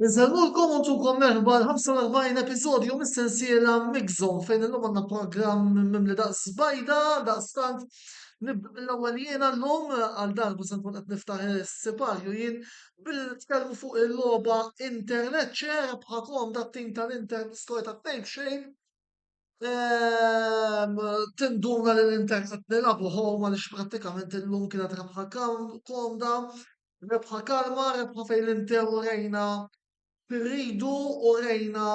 Insellmulkom u ntukom merħba l-45 episodju mis-sensiela Mixon fejn illum għandna programm mimli daqs bajda, daqs tant l-ewwel jien għallum għal darbu se nkun qed niftaħ is-siparju jien bil-tkellmu fuq il-logħba internet ċer bħakom dat-tim tal-Inter skor ta' fejn xejn Ehm, tinduna li l-Inter qed nilagħbu home għaliex prattikament illum kienet rebħa kam- komda, rebħa kalma, rebħa fejn l-Inter u rejna x'irridu u rejna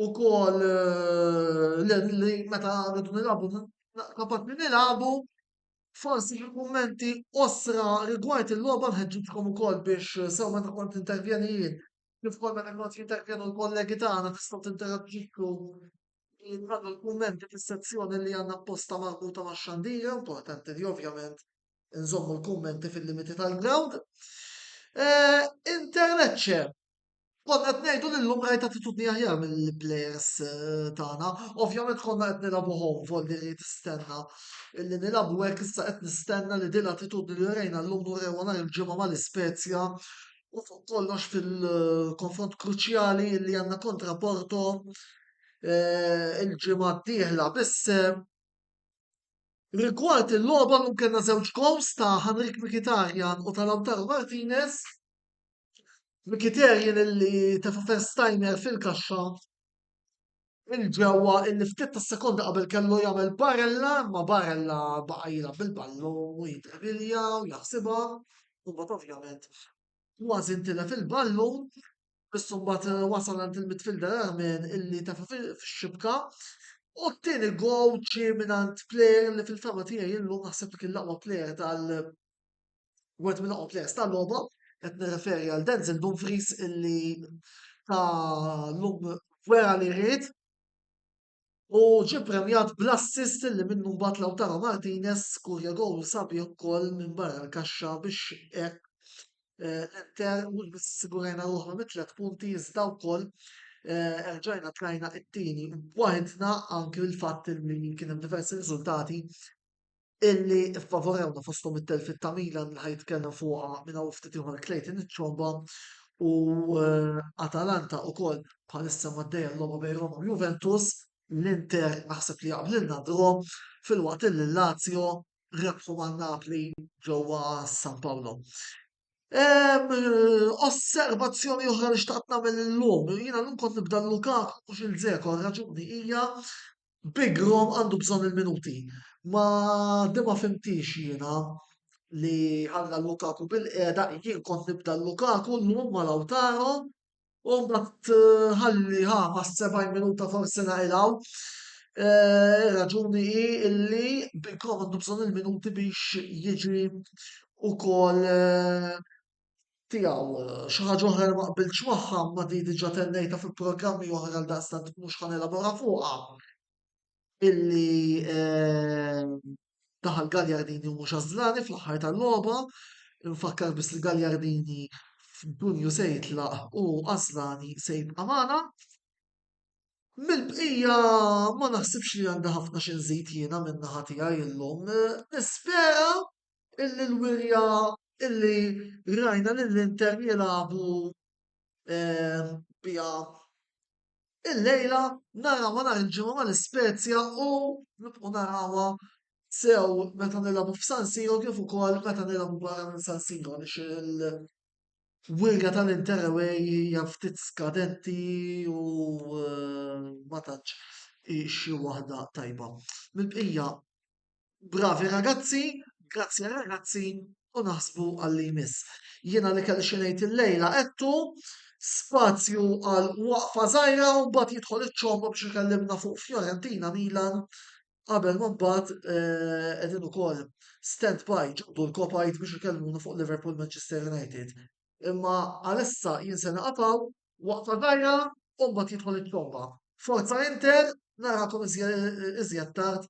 ukoll eh, li li meta rridu nilagħbu na- kapaċi nilagħbu. Forsi xi kummenti qosra rigward il-logħba nħeġġiġkom ukoll biex sew meta kont intervjeni jien Kif konna qed nagħtu feedback jiena u l-kollegi tagħna tistgħu tinteraġixxu billi tagħmlu l-kummenti fis-sezzjoni li għandna apposta marbuta max-xandir, importanti li ovvjament inżommu l-kummenti fil-limiti tal-ground. Interlecce, konna qed ngħidu li llum rajt attitudni aħjar mill-plejers tagħna. Ovvjament konna qed nilagħbu home volli li tistenna li nilagħbu hekk issa qed nistenna li din l-attitudni li rejna llum nurewha nhar il-ġimgħa mal-Ispezja u fuq kollox fil-konfront kruċjali li għandna kontra Porto eh, il-ġimgħa d-dieħla. Biss eh, rigward il-logħba llum kellna żewġ gols ta' Henrik Mkhitaryan u ta' Lautaro Martinez. Mkhitaryan li tefa first timer fil-kaxxa il-ġewwa illi ftit ta' sekonda qabel kellu jagħmel barella, ma barella baqa' jilgħab bil-ballu u jidrilja u jaħsibha, u mbagħad ovvjament kważi ntilef il-ballu, biss mbagħad eh, wasal għand il-midfielder Armin illi tefa' fix-xibka. U t-tieni gow ġie mingħand player li fil-fama tiegħi illum naħseb li kien l-aqwa player tal wieħed minn oqgħod players tal-logħba, qed nirreferi għal Denzel Dumfries illi ta' lum wera li rrid u ġi premjat bl-assist li minnu mbagħad Lautaro Martinez kurja gol sabi wkoll minn barra l-kaxxa biex hekk eh, l-Inter mhux biss sigurajna ruħna mit tliet punti iżda wkoll eh, erġajna tlajna it-tieni waħedna anki l-fatt li kien hemm diversi riżultati illi ffavorewna fosthom it-telfiet ta' Milan li ħa jitkellem fuqha minn hawn ftit ieħor Clayton iċ-Ciomba u eh, Atalanta ukoll bħalissa maddejja l-logħba bejn Roma u Juventus. L-Inter naħseb li jaqblilna draw fil-waqt illi l-Lazio rebħu ma' Napli ġewwa San Paolo. Em, Osservazzjoni oħra li xtaqt nagħmel illum, jiena llum kont nibda l-Lukaku mhux il-Zeko, raġuni hija Big Rom għandu bżonn il-minuti. Ma di ma fimtix jiena li ħalla Lukaku bil-qiegħda, jien kont nibda Lukaku llum ma Lautaro u mbagħad eh, ħalli ħa ma 70 minuta forsi naqilgħu. Eh, Ir-raġuni hi illi Big Rom għandu bżonn il-minuti biex jiġi ukoll eh, tiegħu. Xi ħaġa oħra li ma qbiltx magħha imma di diġà tennejtha fi programmi oħra għaldaqstant mhux ħa nelabora fuqha illi ehm, daħal Gagliardini u mhux Ażlani fl-aħħar tal-logħba. Nfakkar biss li Gagliardini f'Dunju se jitlaq u Ażlani se jibqa' magħna. Mill-bqija ma naħsibx li għandha ħafna xi nżid jiena minn naħa tiegħi llum. Nispera illi l-wirja illi rajna lill-Inter jilagħbu ehm, biha illejla narawha nhar il-ġimgħa mal-Ispezja u nibqgħu narawha sew meta nilagħbu f'San Siro kif ukoll meta nilagħbu barra minn San Siro għaliex il-wirja tal-Inter away hija ftit skadenti u eh, ma tantx xi waħda tajba. Mill-bqija Bravi ragazzi, grazzi ragazzi u naħsbu għalli jmiss. Jiena li kelli xinejt il-lejla għettu, spazju għal waqfa zaħira u bat jidħol iċ-ċombo biex ikellimna fuq Fiorentina Milan qabel ma mbagħad qegħdin eh, ukoll stand by ġabdu l-kopajt biex ikellmuna fuq Liverpool Manchester United. Imma għalissa jien se naqafaw waqfa dajra u mbagħad jidħol it-tromba. Forza Inter, narakom iżjed tard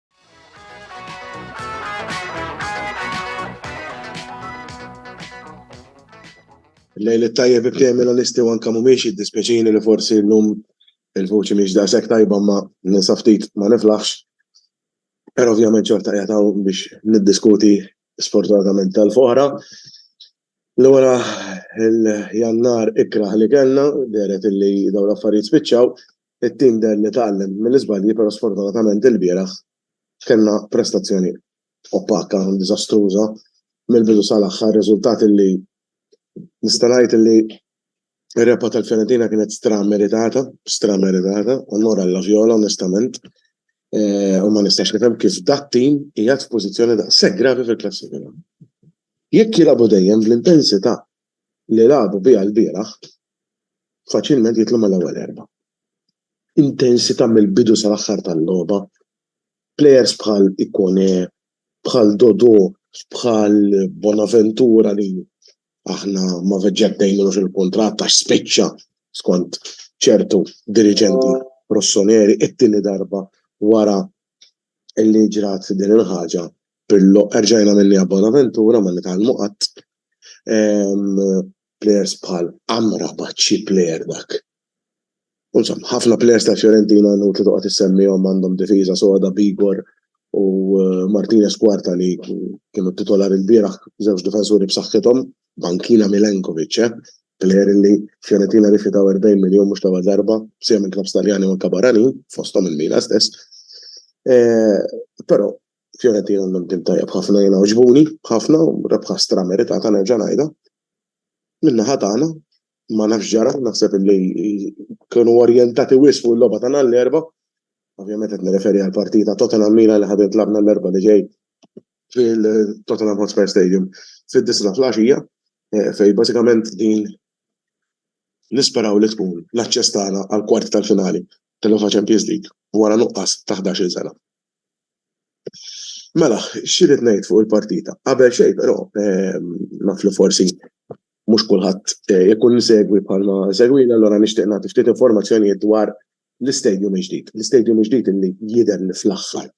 Lejl it-tajjeb ibtej Milanisti u anka mhumiex jiddispjaċini li forsi llum il-vuċi mhix daqshekk tajba ma ninsa ftit ma niflaħx. Però ovvjament xorta qiegħed hawn biex niddiskuti sfortunatament tal-foħra. Li wara l-Jannar ikrah li kellna, dehret illi dawn l-affarijiet spiċċaw. It-tim deher li tgħallem mill-iżbalji però sfortunatament ilbieraħ kellna prestazzjoni opaka, diżastruża mill-bidu sal-aħħar. Riżultat illi nista' ngħid illi Ir-rebħa tal-Fiorentina kienet stra meritata, stra meritata, onor għal Viola onestament. Eh, u ma nistax nifhem kif dat tim qiegħed f'pożizzjoni daqshekk gravi fil-klassifika. Jekk jilagħbu dejjem fl-intensità li lagħbu biha l-bieraħ, faċilment jitlu mal-ewwel erba. Intensità mill-bidu sal-aħħar tal-logħba, plejers bħal Ikone, bħal Dodo, bħal Bonaventura li aħna ma veġġettejnux il-kuntratt għax spiċċa skont ċertu diriġenti Rossoneri it-tieni darba wara li ġrat din il-ħaġa Pirlo erġajna minniha Bonaventura ma nitgħallmu qatt. Ehm, plejers bħal Amrabat xi plejer dak. U insomma, ħafna plejers tal-Fiorentina inutli toqgħod issemmihom għandhom difiża soda b'Igor u Martinez Quarta li kienu titolari lbieraħ, żewġ difensuri b'saħħithom, bankina Milenkovic eh, plejer li Fiorentina rifjutaw 40 miljun mhux l-ewwel darba, b'sija minn klabbs Taljani u anke barranin, fosthom il-Milan stess. Eh, però Fiorentina għandhom tim tajjeb ħafna jiena oġbuni, ħafna u rebħa strameritata nerġa' ngħidha. Min-naħa tagħna ma nafx ġara, naħseb li kienu orjentati wisq fuq il-logħba tagħna l-erba. Ovvjament qed nirreferi għal partita Tottenham Milan li ħadet labna l-erba li ġej fil-Tottenham Hotspur Stadium fid-disna fl-għaxija eh, fej bażikament din nisperaw li tkun l-aċċess tagħna għal kwart tal-finali tal-UEFA Champions League wara nuqqas ta' 11 sena. Mela, xirrit ngħid fuq il-partita. Qabel xejn però eh, naf li forsi mhux kulħadd ikun isegwi bħalma isegwini allura nixtieq nagħti ftit informazzjonijiet dwar l-istadium il-ġdid. L-istadium il-ġdid li jidher li fl-aħħar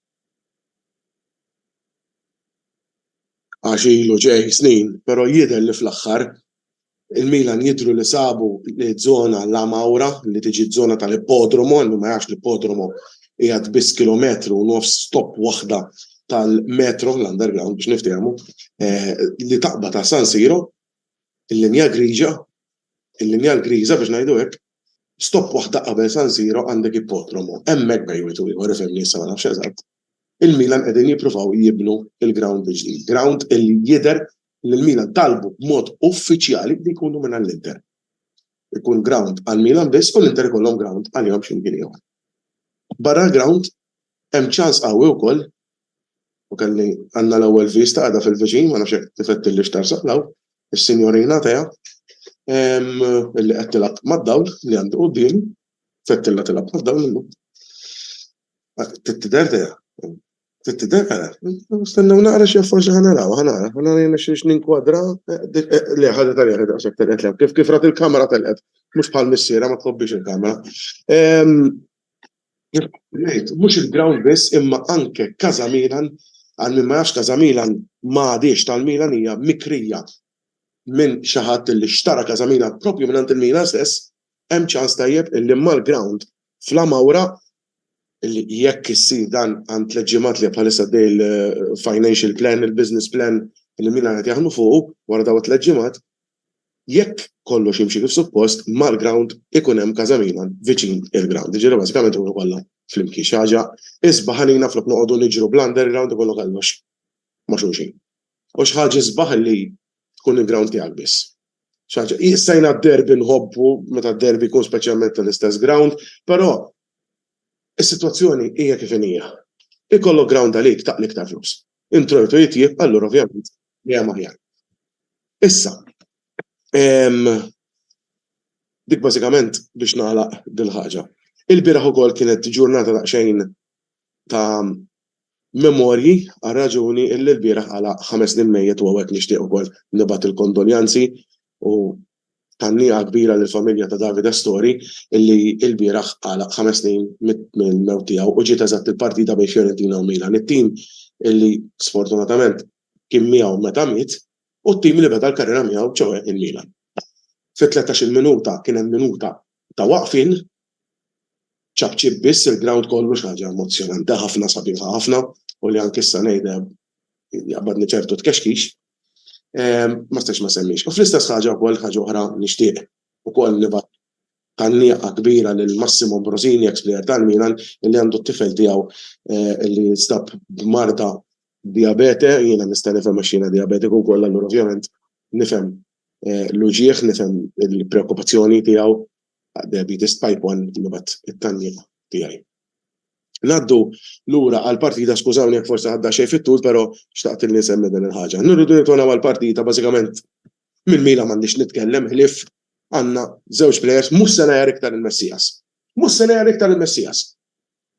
għax ilu ġej snin, però jidher li fl-aħħar il-Milan jidhru li sabu ż-żona La Maura li tiġi ż-żona tal-ippodromu, għal min ma jafx l-ippodromu qiegħed biss kilometru u nofs stop waħda tal-metro, l-underground biex niftehmu, eh, li taqba ta' San Siro, il-linja griġa, il-linja l-griża biex ngħidu hekk, stop waħda qabel San Siro għandek ippotromo, hemmhekk bejwitu ieħor ifhem li issa ma nafx eżatt. Il-Milan qegħdin jippruvaw jibnu il-ground biex din, ground li jidher li l-Milan talbu b'mod uffiċjali li jkunu minn l-Inter. Ikun ground għal Milan biss u l-Inter ikollhom ground għalihom x'imkien ieħor. Barra l-ground Hemm ċans qawwi wkoll, u kelli, għandna l-ewwel vista qiegħda fil-viċin, ma nafx jekk tifettilhiex tarsaq 'l hawn, is-Sinjorina Atea, illi qed tilgħab mad-dawl li għandi quddiemi, tfettilha tilgħab mad-dawl illum. Trid tidher Tea? Trid tidher? Ara, stennew naqra x'jaf forsi ħa narawha, ħa nara, ħa nara jien nexxilx ninkwadra, le ħadet għaliha daqshekk telqet 'l hemm, kif rat il-kamera telqet, mhux bħal missierha ma tħobbiex il-kamera. Jkolli ngħid, mhux il-ground biss imma anke Casa Milan, għal min ma jafx Casa Milan ma għadhiex tal-Milan hija mikrija minn xi ħadd li xtara Casa Milan proprju mingħand il-Milan stess, hemm ċans tajjeb li mal-ground f'La Maura, li jekk issir dan għand tliet ġimgħat li bħalissa għaddej il-financial plan, il-business plan li l-Milan qed jaħdmu fuqu wara dawn it-tliet ġimgħat, jekk kollox jimxi kif suppost, mal-ground ikun hemm Casa Milan viċin il-ground. Jiġifieri bażikament ikunu kollha flimkien. Xi ħaġa isbaħ għalina flok noqogħdu niġru bl-underground ikollok kollox ma' xulxin. U xi ħaġa isbaħ li tkun il-ground tiegħek biss. Xi ħaġa issa jiena d-derby nħobbu meta d-derby jkun speċjalment tal-istess ground, però is-sitwazzjoni hija kif inhija. Ikollok ground għalik taqli iktar flus. Introjtu jitjieb allura ovvjament dejjem aħjar. Issa, dik bażikament biex nagħlaq dil-ħaġa. Il-bieraħ ukoll kienet ġurnata daqsxejn ta' memorji għal raġuni illi l-bieraħ għalaq ħames snin mejjet u hawnhekk nixtieq ukoll nibgħat il-kondoljanzi u Thanniqa kbira lill-familja ta' David Astori illi ilbieraħ għalaq ħames snin mill-mewt tiegħu u ġiet eżatt il-partita bejn Fiorentina u Milan, it-tim illi sfortunatament kien miegħu meta miet u t-tim li beda l-karriera miegħu ċoe il-Milan. Fit-tlettax-il minuta kien hemm minuta ta' waqfien, ċapċip biss il-grawnd kollu xi ħaġa emozzjonanti ħafna sabiħa ħafna u li anke issa ngħidha jaqbadni ċertu tkexkix, ma stax ma semmix. U fl-istess ħaġa wkoll ħaġa oħra nixtieq ukoll nibat tanniqa kbira lil Massimo Brosini, ex player tal-Milan, li għandu t-tifel tiegħu eh, li stab b'marda diabete, jiena nista' nifhem għax jiena diabetiku wkoll allura ovvjament nifhem eh, l-uġieħ, nifhem il-preokkupazzjoni tiegħu diabetes type 1 nibat it-tanniqa tiegħi. Naddu lura għall-partita, skużawni jekk forsi ħadda xejn fit-tul, però xtaqt li nsemmi din il-ħaġa. Nirridu nitona għall-partita bażikament minn Mila m'għandix nitkellem ħlief għandna żewġ plejers mhux se ngħajjar iktar il-Messias. Mhux se ngħajjar iktar il-Messias.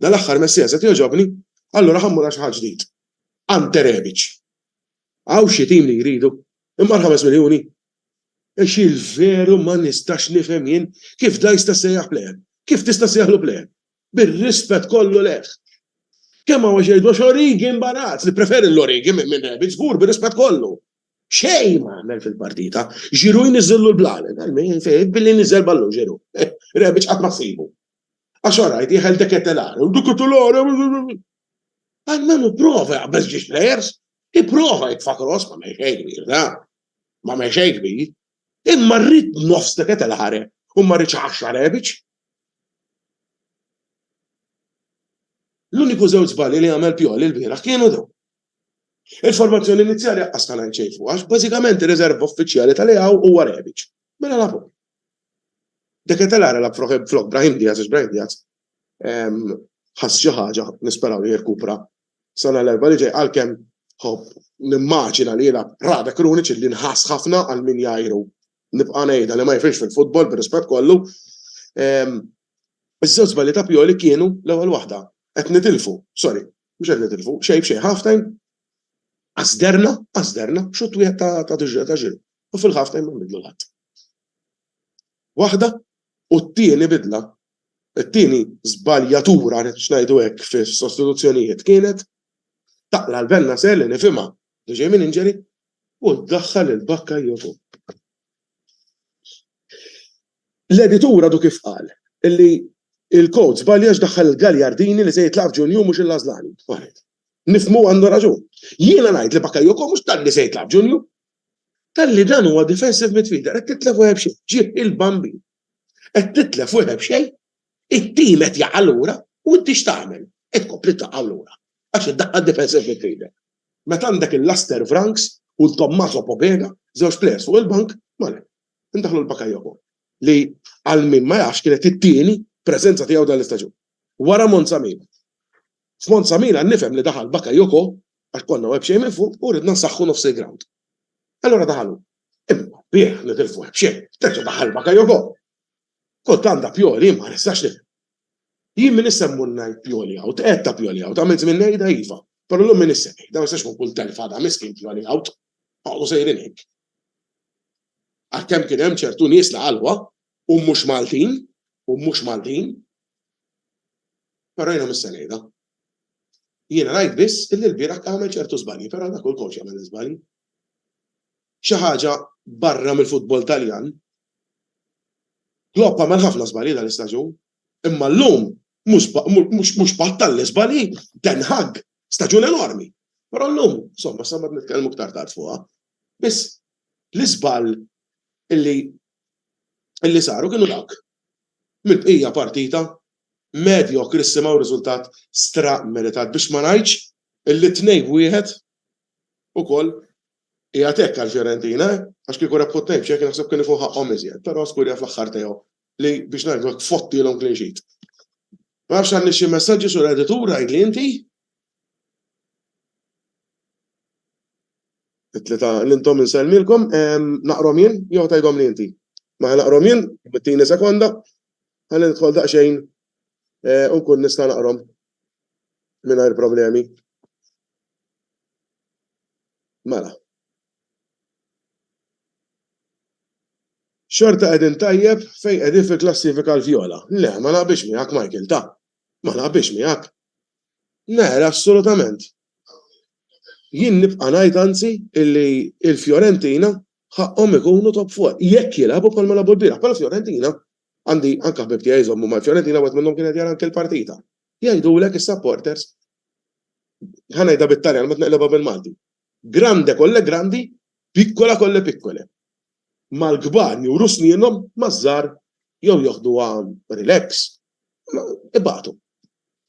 Dal-aħħar Messias qed jogħġobni, allura ħammur għal xi ħadd ġdid. Ante Rebic. Hawn xi tim li jridu, imma l-5 miljuni Għax il-veru ma nistax nifhem jien kif dan jista' jsejjaħ pleħel. Kif tista' ssejjaħlu pleħel? Bir-rispett kollu lejh. Kemm hawn jgħidu għax origi imbarazz, nippreferi l-origi minn rabbit żgur bir-rispett kollu. Xejn ma għamel fil-partita. Giroud jniżżillu l-blalen. Billi niżżel ballun Giroud. Rebic qatt ma ssibu. Għax orajt jieħel deketelar. Deketelar. Almenu prova jaqbeż ġiex players. Iprova jitfa' cross ma mejn xejn kbir, da. M'għamel xejn kbir. Imma rrid nofs deket il-ħareb u ma rridx għaxar għebiċ. L-uniku żewġ żbalji li għamel Pioli l-bieraħ kienu dawn. Il-formazzjoni inizjali għaqqas ta' ngħid xejn fuq għax bażikament ir-riserva uffiċjali tal-EAW huwa Rebic. Mela la fuq. Deket il-ħareb flok Brahim Diaz għax Brahim Diaz ħass xi ħaġa nisperaw li jirkupra sena l-erba' li ġej għalkemm ħobb nimmaġina li jilgħab Rada Krunic li nħass ħafna għal min jgħiru nibqa' ngħidha li ma jifhimx fil-futbol bir-rispett kollu. Iż-żewġ żbalji ta' Pioli kienu l-ewwel waħda. Qed nitilfu, sorry, mhux qed nitilfu, xejn b'xejn ħaftejn għasderna, għasderna, xut wieħed ta' ta' diġra ta' ġil. U fil-ħaftejn ma nbidlu l-ħadd. Waħda u t-tieni bidla It-tieni żbaljatura, x'ngħidu hekk, fis-sostituzzjonijiet kienet taqla' l-Bennacer li nifhimha li ġej minn injury u ddaħħal lil Bakayoko. L-editur għadu kif qal li l-coach żbalja għax daħħal lil Gagliardini li se jitlaq f'Ġunju mhux il-Lażlani. Waħed. Nifhmu għandu raġun. Jiena ngħid li Bakayoko mhux talli se jitlaq f'Ġunju, talli dan huwa defensive midfielder qed titlef u ebxi, ġieb il-Bambin. Qed titlef u jħobb xejn. It-tim qed jaqa' lura u inti x'tagħmel? Qed tkompli taqa' lura għax iddaħħal defensive midfielder. Meta għandek il-Laster Vranckx u l-Tommaso Pobega, żewġ players fuq il-bank, m'għalek. Indaħħlu lil Bakayoko li għal min ma jafx kienet it-tieni preżenza tiegħu dan l-istaġun. Wara Monza Milan. F'Monza Milan nifhem li daħal Bakayoko għax konna web xejn minn fuq u ridna nsaħħu nofs il-ground. Allura daħalu. Imma bih li tilfu hekk xejn, terġa' daħal Bakayoko. Kultant da Pioli ma nistax nifhem. Jien min issa mmur ngħid Pioli out, qed ta' Pioli out, għamilt żmien ngħidha iva, però llum min issa ngħidha, ma nistax nkun kull telfa da miskin Pioli out. Għaqdu sejrin hekk. Għalkemm kien hemm ċertu nies li qalwa u mhux Maltin, u mhux Maltin, però jiena missa ngħidha, Jiena rajt biss illi lbieraħ għamel ċertu żbalji, però dak hu l-coach jagħmel l-iżbalji. Xi ħaġa barra mill-futbol Taljan, Klopp għamel ħafna żbalji dan l-istaġun, imma llum mhux battal l-iżbalji, Ten Hag, staġun enormi. Però llum, insomma, sa ma nitkellmu iktar tard fuqha, biss l-iżball illi saru kienu dawk. Mill-bqija partita medjokri simgħu riżultat stra-meritat biex ma ngħidx li tnejn wieħed ukoll qiegħed hekk għall-Fiorentina eh, għax kieku rebħu tnejn b'xejn kien naħseb kien ikun ħaqqhom iżjed, però Scuria fl-aħħar tiegħu li biex ngħidu hekk fottilhom clean sheet. Ma nafx għandi xi messaġġi sur editur għidli inti? It-tlita l-intom insellmilkom, naqrom jien jew tgħidhom li inti. Ma naqrom jien, bittini sekonda, Ħalli nidħol daqsxejn u nkun nista' naqrom mingħajr problemi. Mela. Xorta qegħdin tajjeb fejn qegħdin fil-klassifika l-vjola. Le, ma naqbilx miegħek Michael, ta. Ma naqbilx miegħek. Le, assolutament. Jien nibqa' ngħid anzi illi l-Fiorentina Ħaqqhom ikunu top four, jekk jilagħbu bħalma lagħbu l-bieraħ, bħala Fiorentina. Għandi anke ħbieb tiegħi jżommu mal-Fiorentina wieħed minnhom kien qed jara anke l-partita. Jgħidulek is-supporters ħa ngħidha bit-Taljan ma tneqlebha bil-Malti. Grande kolle grandi, pikkola kolle pikkole. Mal-kbar juru snienhom maż-żgħar jew joħduha relax, Ibatu.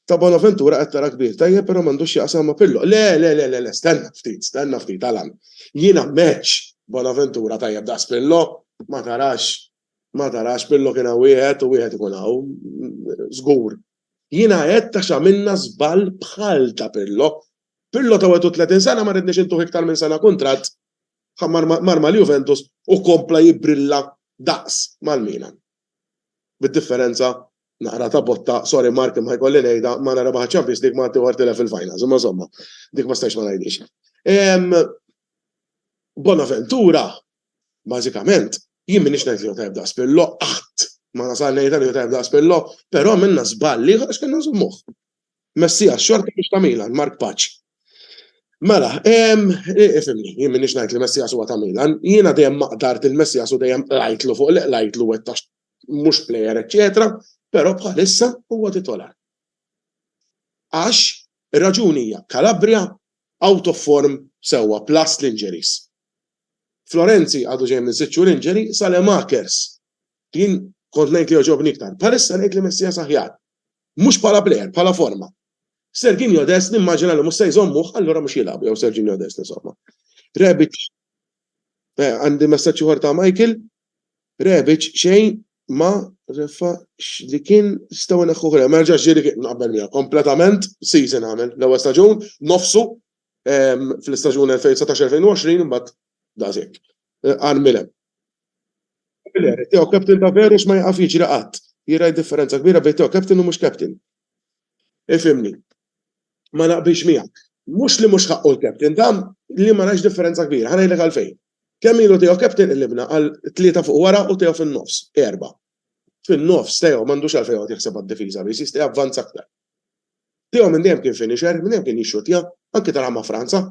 Ta' Bonaventura qed tara kbir, tajjeb però m'għandux x'jaqsam ma' Pirlo. Le, le, le, le, le, stenna ftit, stenna ftit, Alan. Jiena match Bonaventura tajjeb daqs Pirlo, ma tarax, ma tarax, Pirlo kien hawn wieħed u wieħed ikun hawn, żgur. Jiena għedt għax għamilna żball bħal ta' Pirlo. Pirlo ta' 31 sena ma ridniex intuh iktar minn sena kuntratt, ħa mar mal-Juventus u kompla jibbrilla daqs mal-Milan. Bid-differenza, naqra ta' botta, sorry Mark imma jkolli ngħidha, Malta rebaħ iċ-Champions League ma ħaddieħor tilef fil-finals, imma insomma, dik ma stajtx ma ngħidhiex. Bonaventura, bażikament, jien m'iniex ngħid li hu tajjeb daqs Pirlo, qatt ma nasal ngħidha li hu tajjeb daqs Pirlo, però għamilna żball ieħor għax kellna nżommuh. Messias xorta mhux ta' Milan, Mark Paċ. Mela, ifimni, jien minix ngħid li Messias huwa ta' Milan, jiena dejjem ma qdart lil Messias u dejjem qlajtlu fuq li qlajtlu wettax mhux plejer eċċetera, però bħalissa huwa titolar. Għax ir-raġuni hija Calabria out of form sewwa plus l-injuries. Florenzi għadu ġej minn sitt xhur injury, Salemakers jien kont ngħid li jogħġobni iktar. Bħalissa ngħid li Messias aħjar, Mhux bħala plejer, bħala forma. Serginio Dest nimmaġina li mhux se jżommuh, allura mhux jilgħabu jew Serginio Dest insomma. Rebic eh, għandi messaġġ ieħor ta' Michael, Rebic xejn ma refa li kien staw neħħu ħra, ma rġax ġiri kien naqbel mija, kompletament season għamel, l-ewwel staġun, nofsu ehm, fl-istaġun 2019-2020 mbagħad dażek. Eh, Għan milem. Miller, Teo captain ta' veru x'ma jaqaf jiġri qatt. Jira differenza kbira bejn Teo captain u mhux captain. Ifhimni. Ma naqbilx miegħek. Mhux li mhux ħaqqu l-captain, ta' li ma narax differenza kbira. Ħa ngħidlek għalfejn. Kemm ilu Teo captain qlibna għal tlieta fuq wara u Teo fin-nofs, erba'. Fin-nofs, Teo m'għandux għalfejn joqgħod jaħseb għad-difiża biss, jista' javvanza aktar. Teo minn dejjem kien finisher, minn dejjem kien jixxuttja, anki taraha ma' Franza.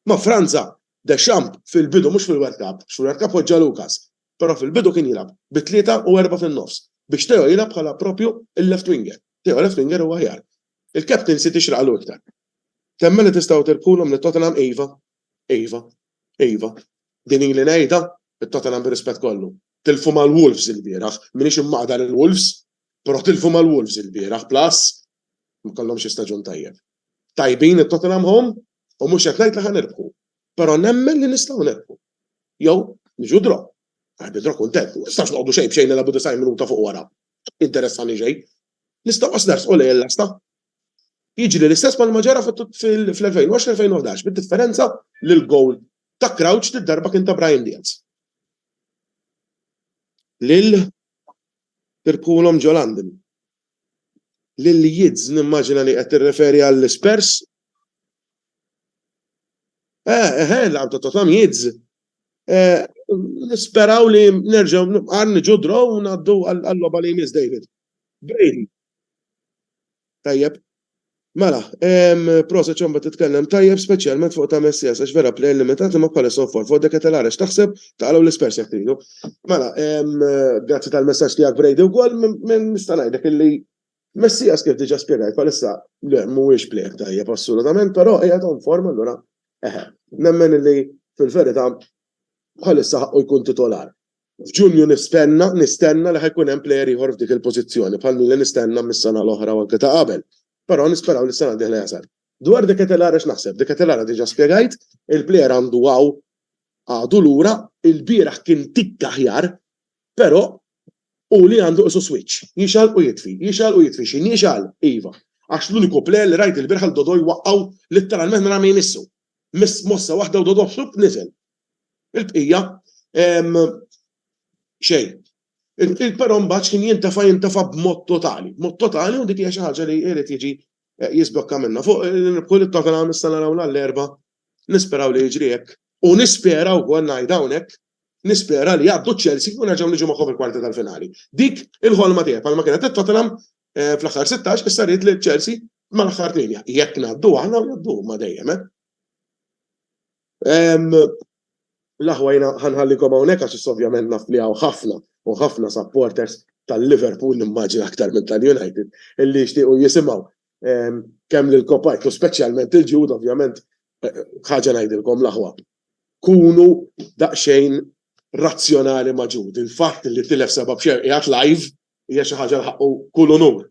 Ma' Franza! Deschamps fil-bidu mhux fil-World Cup, għax fil-World Cup poġġa Lucas, però fil-bidu kien jilgħab bi tlieta u erbgħa fin-nofs biex Theo jilgħab bħala proprju l-left winger. Theo left winger hu aħjar. Il-captaincy tixraqlu iktar. Temmen li tistgħu tirbħulhom lil Tottenham iva. Iva. Iva. Din ili ngħidha, it-Tottenham bir-rispett kollu. Tilfu mal-Wolves ilbieraħ. M'iniex immaqda lill-Wolves, però tilfu mal-Wolves ilbieraħ plus ma kellhomx staġun tajjeb. Tajbin it-Tottenham home, U mhux qed ngħid li ħa nirbħu, però nemmen li nistgħu nirbħu. Jew niġu draw. Għax bi draw kuntent, ma nistax noqogħdu xejn b'xejn nilagħbu 90 minuta fuq wara. Interessani xejn. Nistgħu qas nersqu lejn l-lasta. Jiġri l-istess bħalma ġara fl-2020-2011 bid-differenza li l-gowl ta' Crouch li darba kien ta' Brian Diaz. Lil Pirpulom ġo London. L-Leeds nimmaġina li qed tirreferi għall-Spurs. Eh, eh, eh, laqam ta' Tottenham Leeds. Eh, nisperaw li nerġgħu nibqar niġu draw u ngħaddu għall-logħba li jmiss David. Brady. Tajjeb, Mela, ehm, proset ċomba titkellem tajjeb speċjalment fuq ta' Messias għax vera plejn limitat li ma bħala sofor fuq dek etelara x'taħseb taqalgħu l-ispers jekk tridu. Mela, ehm, grazzi tal-messaġġ tiegħek Brady wkoll minn nista' ngħidlek illi Messias kif diġà spjegajt bħalissa le mhuwiex plejn tajjeb assolutament, però hija ta' forma allura eħe. Nemmen illi fil-verità bħalissa ħaqqu jkun titolar. F'Ġunju nistenna, nistenna li ħa jkun hemm plejer ieħor f'dik il-pożizzjoni, bħal min li nistenna mis-sena l-oħra u anke ta' qabel. Però nisperaw li s-sena d-dieħla jasal. Dwar De Ketelaere x'naħseb? De Ketelaere diġà spjegajt, il-plejer għandu hawn, għadu lura, ilbieraħ kien tikk aħjar, però hu li għandu qisu switch, jixgħal u jitfi, jixgħal u jitfi. Xi nixgħal? Iva. Għax l-uniku plejer li rajt ilbieraħ lil Dodo jwaqqgħu litteralment mingħajr ma jmissu. Miss mossa waħda u Dodo flupp niżel. Il-bqija, xejn. Però mbagħad kien jintefa' jintefa' b'mod totali, b'mod totali u dik hija xi ħaġa li jrid jiġi jiżblokka minnha. Fuq il-rebħu li Tottenham issa naraw nhar l-Erbgħa, nisperaw li jiġri hekk u nispera wkoll ngħid hawnhekk, nispera li jgħaddu ċ-Chelsea u nerġgħu niġu magħhom fil-kwarti tal-finali. Dik il-ħolma tiegħi bħalma kienet għal Tottenham fl-aħħar sittax issa rrid li Chelsea mal-aħħar tmienja. Jekk ngħaddu aħna u jgħaddu huma dejjem. L-aħwa jiena ħanħallikom hawnhekk għax issa ovvjament naf li hawn ħafna u ħafna supporters tal-Liverpool nimmaġina aktar minn tal-United illi jixtiequ jisimgħu kemm lil Kopajt u speċjalment lil Jude ovvjament ħaġa ngħidilkom l-aħwa. Kunu daqsxejn razzjonali ma' Jude. Il-fatt li tilef seba' b'xejn qiegħed live hija xi ħaġa li ħaqqu kull unur.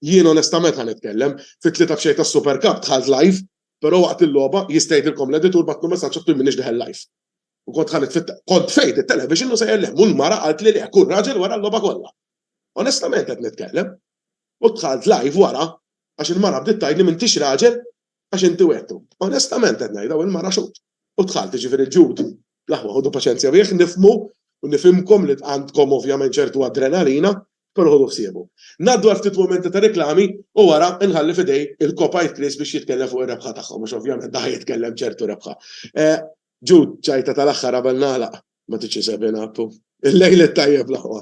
Jien onestament ħa nitkellem, fit-tlieta b'xejn tas-Super Cup dħalt live Però waqt il-logħba, jista' jgħidilkom l-editur bagħatlu messaġġ qed m'iniex deħel live. U kont ħaniet fit-, kont tfejt it-television u sejjer lhemm u l-mara qaltli le, kull raġel wara l-logħba kollha. Onestament qed nitkellem. U dħalt live wara għax il-mara bdiet tgħidli m'intix raġel għax inti wegħdtu. Onestament qed ngħidha u l-mara xut. U dħalt, jiġifieri Jude, Bl-aħwa ħudu paċenzja bih, nifhmu u nifhimkom li għandkom ovvjament ċertu adrenalina, però ħuduh siebu. Ngħaddu għal ftit mumenti ta' reklami u wara nħalli f'idej il-kopajt Chris biex jitkellem fuq ir-rebħa tagħhom għax ovvjament da' ħa jitkellem ċertu rebħa. Jude, ċajta tal-aħħar qabel nagħlaq. Ma tridx isegħbina, Appu. Il-lejl it-tajjeb l-aħwa.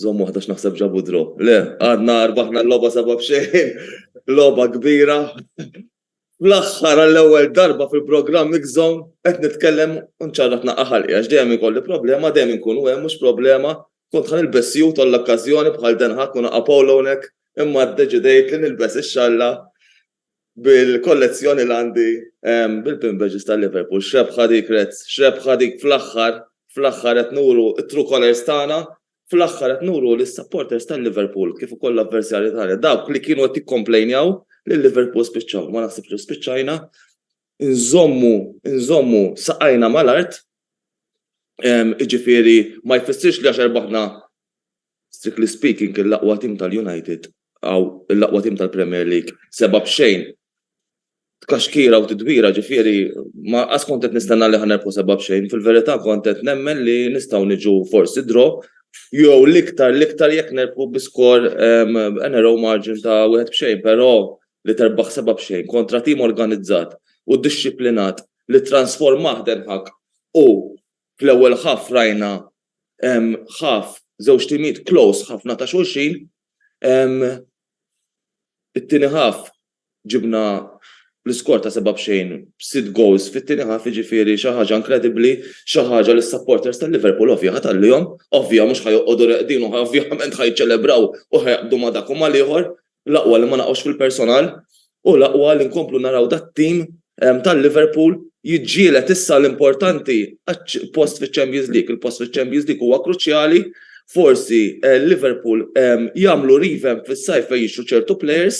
Żomm waħda x'naħseb ġabu draw. Le, għadna rbaħna l-logħba seba' b'xejn. Logħba kbira. Fl-aħħar għall-ewwel darba fil-programm Mix Zone qed nitkellem u nċarraq naqqa' ħalqi għax dejjem ikolli problema, dejjem inkunu hemm mhux problema, kont ħa nilbes sjut għall-okkażjoni bħal Den Haag u naqqa' polo hawnhekk imma ddeċidejt li nilbes ix-xalla bil-kollezzjoni li għandi bil-pin badges ta' Liverpool. X'rebħa dik Reds, x'rebħa dik fl-aħħar, fl-aħħar qed nuru t-true colours tagħna, fl-aħħar qed nuru lis-supporters ta' Liverpool kif ukoll l-avversarji tagħna, dawk li kienu qed jikkomplejnjaw li Liverpool spiċċaw, ma naħsibx li spiċċajna, inżommu, inżommu saqajna mal-art, jiġifieri ma jfissirx li għax erbaħna Strictly speaking l-aqwa tim tal-United aw l-aqwa tim tal-Premier League seba' b'xejn tkaxkira u tidwira ġifieri ma qas kont qed nistenna li ħa nerbħu seba' b'xejn fil-verità kont qed nemmen li nistgħu niġu forsi draw jew l-iktar l-iktar jekk nerbħu bi skor a narrow margin ta' wieħed b'xejn però li terbaħ seba' b'xejn kontra tim organizzat u dixxiplinat li ttransformah Den Haag u Fl-ewwel half rajna half żewġ timijiet close ħafna ta' xulxin. It-tieni half ġibna l-iskor ta' seba' b'xejn b'sitt goals fit-tieni half jiġifieri xi ħaġa inkredibbli, xi ħaġa li s-supporters ta' Liverpool ovvja ħa tgħallihom, ovvja mhux ħa joqogħdu reqdin u ovvjament ħa jiċċelebraw u ħa jaqbdu ma' dak u mal-ieħor L-aqwa li ma naqgħux fil-personal u l-aqwa li nkomplu naraw dat-tim ta' Liverpool jiġġieled issa l-importanti post fiċ-Champions League. Il-post fiċ-Champions League huwa kruċjali. Forsi Liverpool jagħmlu revamp fis-sajf fejn jixtru ċertu plejers,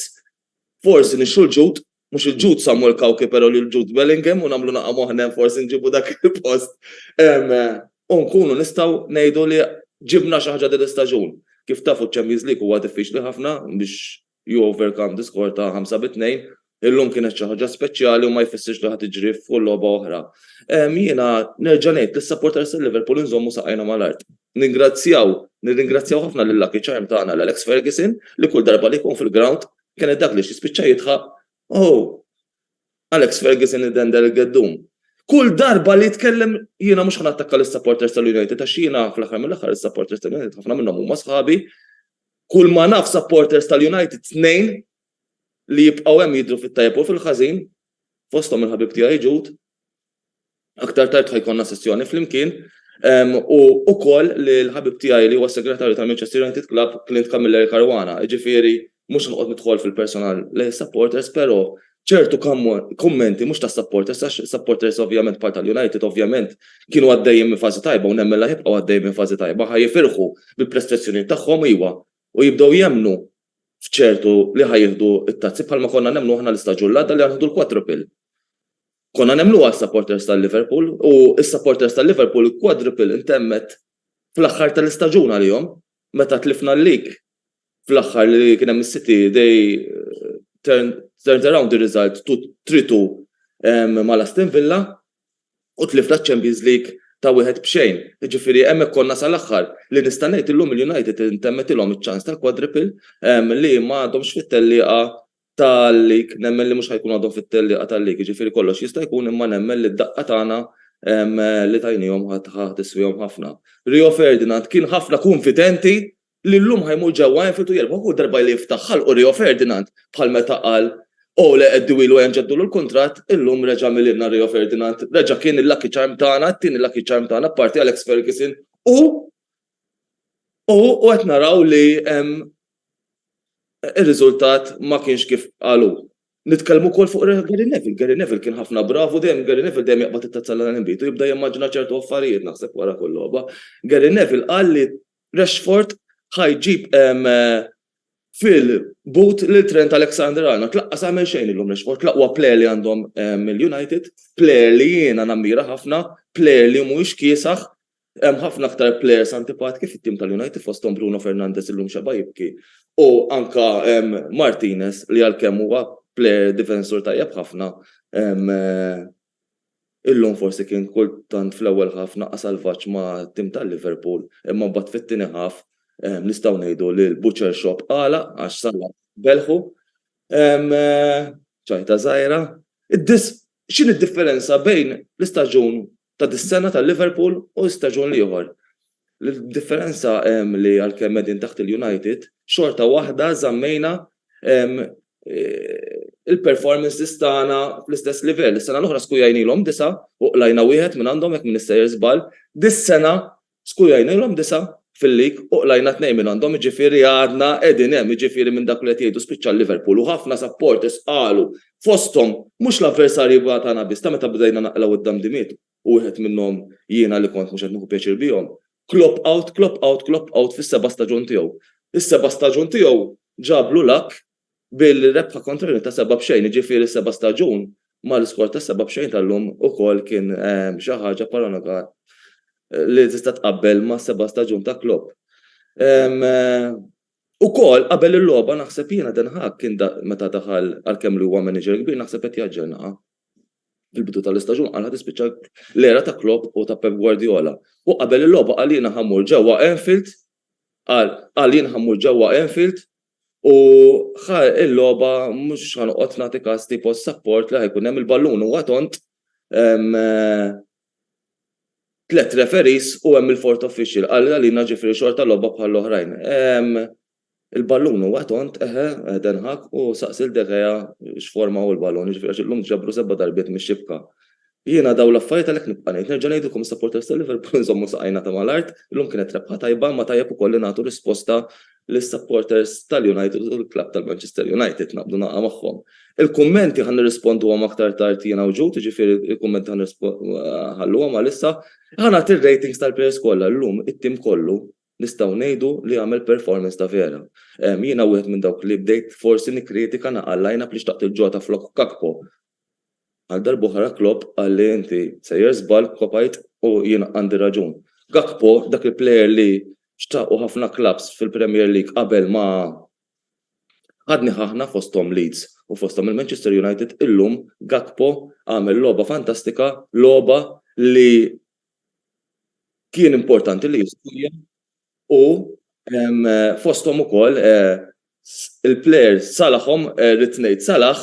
forsi nixtru l-ġud Mhux il-Jude Samuel Cauchi però lil Jude Bellingham u nagħmlu naqgħa moħħna forsi nġibu dak il-post u nkunu nistgħu ngħidu li ġibna xi ħaġa din l-istaġun. Kif tafu ċ-Champions League huwa diffiċli ħafna biex you overcome the score ta' ħamsa bi tnejn. Illum kienet xi ħaġa speċjali u ma jfissirx li ħa tiġri f'kull logħba oħra. Jiena nerġa' ngħid lis-supporters ta' Liverpool inżommu saqajna mal-art. Ningrazzjaw, nirringrazzjaw ħafna lil Lucky Charm tagħna l-Alex Ferguson li kull darba li jkun fil-ground Kienet dak li xi spiċċa jidħaq, Oh! Alex Ferguson idendel il-geddum. Kull darba li jitkellem, jiena mhux ħa nattakka lis-supporters tal-United għax jiena fl-aħħar mill-aħħar is-supporters tal-United ħafna minnhom huma sħabi. Kull ma naf supporters tal-United tnejn li jibqgħu hemm jidhru fit-tajjeb u fil-ħażin, fosthom il-ħabib tiegħi Jude. Aktar tard ħa jkollna sessjoni flimkien u ukoll li l-ħabib tiegħi li huwa s-segretarju tal-Manchester United Club, Clint Camilleri Caruana, jiġifieri mhux noqgħod nidħol fil-personal lejn is-supporters però ċertu kummenti mhux tas-supporters għax is-supporters ovvjament bħal tal-United ovvjament kienu għaddejjin minn fażi tajba u nemmen li ħa jibqgħu għaddejjin minn fażi tajba ħa jifirħu bil-prestazzjonijiet tagħhom iwa u jibdew jemmnu f'ċertu li ħa jieħdu t-tazzi bħalma konna nemmnu aħna l-istaġun l-għadda li ħa nieħdu l-quadruple. Konna nemmnuha s-supporters ta' Liverpool u s-supporters ta' Liverpool il-quadruple intemmet fl-aħħar tal-istaġun għalihom meta tlifna l-league fl-aħħar li kien hemm is-City they turned around the result to 3-2 mal Aston Villa u tlifna ċ-Champions League ta' wieħed b'xejn. Jiġifieri hemmhekk konna sal-aħħar. Li nista' ngħid illum il-United intemmetilhom iċ-ċans tal-quadruple li ma għadhomx fit-tellieqa tal-lig, nemmen li mhux ħajkun għadhom fit-tellieqa tal-lig, jiġifieri kollox jista' jkun imma nemmen li d-daqqa tagħna li tajniehom ħa tiswihom ħafna. Rio Ferdinand kien ħafna kunfidenti li llum ħa jmur ġewwa Anfield u jirbħu kull darba li jiftaħ ħalqu Rio Ferdinand bħal meta qal Ole Eddiwilu ejja nġeddulu l-kuntratt, illum reġa' milielna Rio Ferdinand, reġa' kien il-lucky charm tagħna, it-tieni lucky charm tagħna apparti Alex Ferguson u u qed naraw li ir-riżultat ma kienx kif qal hu. Nitkellmu wkoll fuq Gary Neville. Gary Neville kien ħafna brav u dejjem Gary Neville dejjem jaqbad it-tazza l-għana l-inbid u jibda jimmaġina ċertu affarijiet naħseb wara kull logħba. Gary Neville qal li Rashford ħa jġib fil-but lil Trent Alexander-Arnold. Laqqas għamel xejn illum Rashford, l-aqwa plejer li għandhom il-United, plejer li jiena nammira ħafna, plejer li mhuwiex kiesaħ, Hemm ħafna aktar players antipatki fit-tim tal-United fosthom Bruno Fernandes illum xeba' jibki u anke Martinez li għalkemm huwa player difensur tajjeb ħafna illum forsi kien kultant fl-ewwel half naqas salvaġġ mat-tim ta' Liverpool imma mbagħad fit-tieni half nistgħu ngħidu li l-butcher shop għalaq għax Salah belħu. Ċajta żgħira. X'inhi d-differenza bejn l-istaġun ta' dis-sena ta' Liverpool u staġun l-ieħor. L-differenza li għalkemm qegħdin taħt il-United, xorta waħda żammejna il-performances tagħna fl-istess livell. Is-sena l-oħra Skujja għinilhom disa' u qlajna wieħed mingħandhom jekk m'innissejjer żball. Dis-sena Skujajnilhom disa' fil-lig u qlajna tnejn minn għandhom jiġifieri għadna qegħdin hemm jiġifieri minn dak li qed jgħidu spiċċa l-Liverpool u ħafna supporters qalu fosthom mhux l-avversarji tagħna biss ta' meta bdejna naqlgħu id-damdimiet u wieħed minnhom jiena li kont mhux qed nieħu pjaċir bihom Klopp out Klopp out Klopp out fis-seba' staġun tiegħu. Is-seba' staġun tiegħu ġablu luck bil-rebħa kontra Rimini ta' seba' b'xejn, jiġifieri s-seba' staġun mal-iskor ta' seba' b'xejn tal-lum ukoll kien xi ħaġa paragonabli li tista' tqabbel mas-seba' staġun ta' Klopp. Ukoll qabel il-logħba naħseb jiena Ten Hag kien meta daħal għalkemm li huwa manager kbir naħseb qed jaġġornaha. Fil-bidu tal-istaġun qal ħa tispiċċa l-era ta' Klopp u ta' Pep Guardiola. U qabel il-logħba qal jiena ħa mmur ġewwa Anfield qal qal jien ħa mmur ġewwa Anfield U ħa il-logħba mhux ħa noqgħod nagħti każ tipo s-sapport li ħa jkun hemm il-ballun huwa tond, tliet referees u hemm il-fourth official qal għalina ġifieri xorta logħba bħall-oħrajn. Il-ballun huwa tond, eħe, Ten Hag u saqsi lil De Gea x'forma hu l-ballun, jiġifieri għax illum ġabru seba' darbiet mix-xibka. Jiena dawn l-affarijiet għalhekk nibqa' ngħid, nerġa' ngħidilkom is-supporters ta' Liverpool inżommu saqajna ta' mal-art, illum kienet rebħa tajba imma tajjeb ukoll li nagħtu risposta lis-supporters tal-United u l-klabb tal-Manchester United, naqblu naqgħa magħhom. Il-kummenti ħa nirrisponduhom aktar tard jiena u Jude, jiġifieri l-kummenti ħa nħalluhom għal issa. Ħa nagħti r-ratings tal-players kollha, illum it-tim kollu nistgħu ngħidu li għamel performance ta' vera. Jiena wieħed minn dawk li bdejt forsi nikkritika nagħqa' l-line-up li xtaqt lil Jota flok Gakpo, Għal darb'oħra Klopp qal li inti sejjer żball, kopajt u jien għandi raġun. Gakpo, dak il-plejer li xtaqu ħafna klabbs fil-Premier League qabel ma ħa dnih aħna fosthom Leeds u fosthom il-Manchester United, illum Gakpo għamel logħba fantastika, logħba li kien importanti li jistajja u fosthom ukoll il-plejer Salahom, rrid ngħid Salah,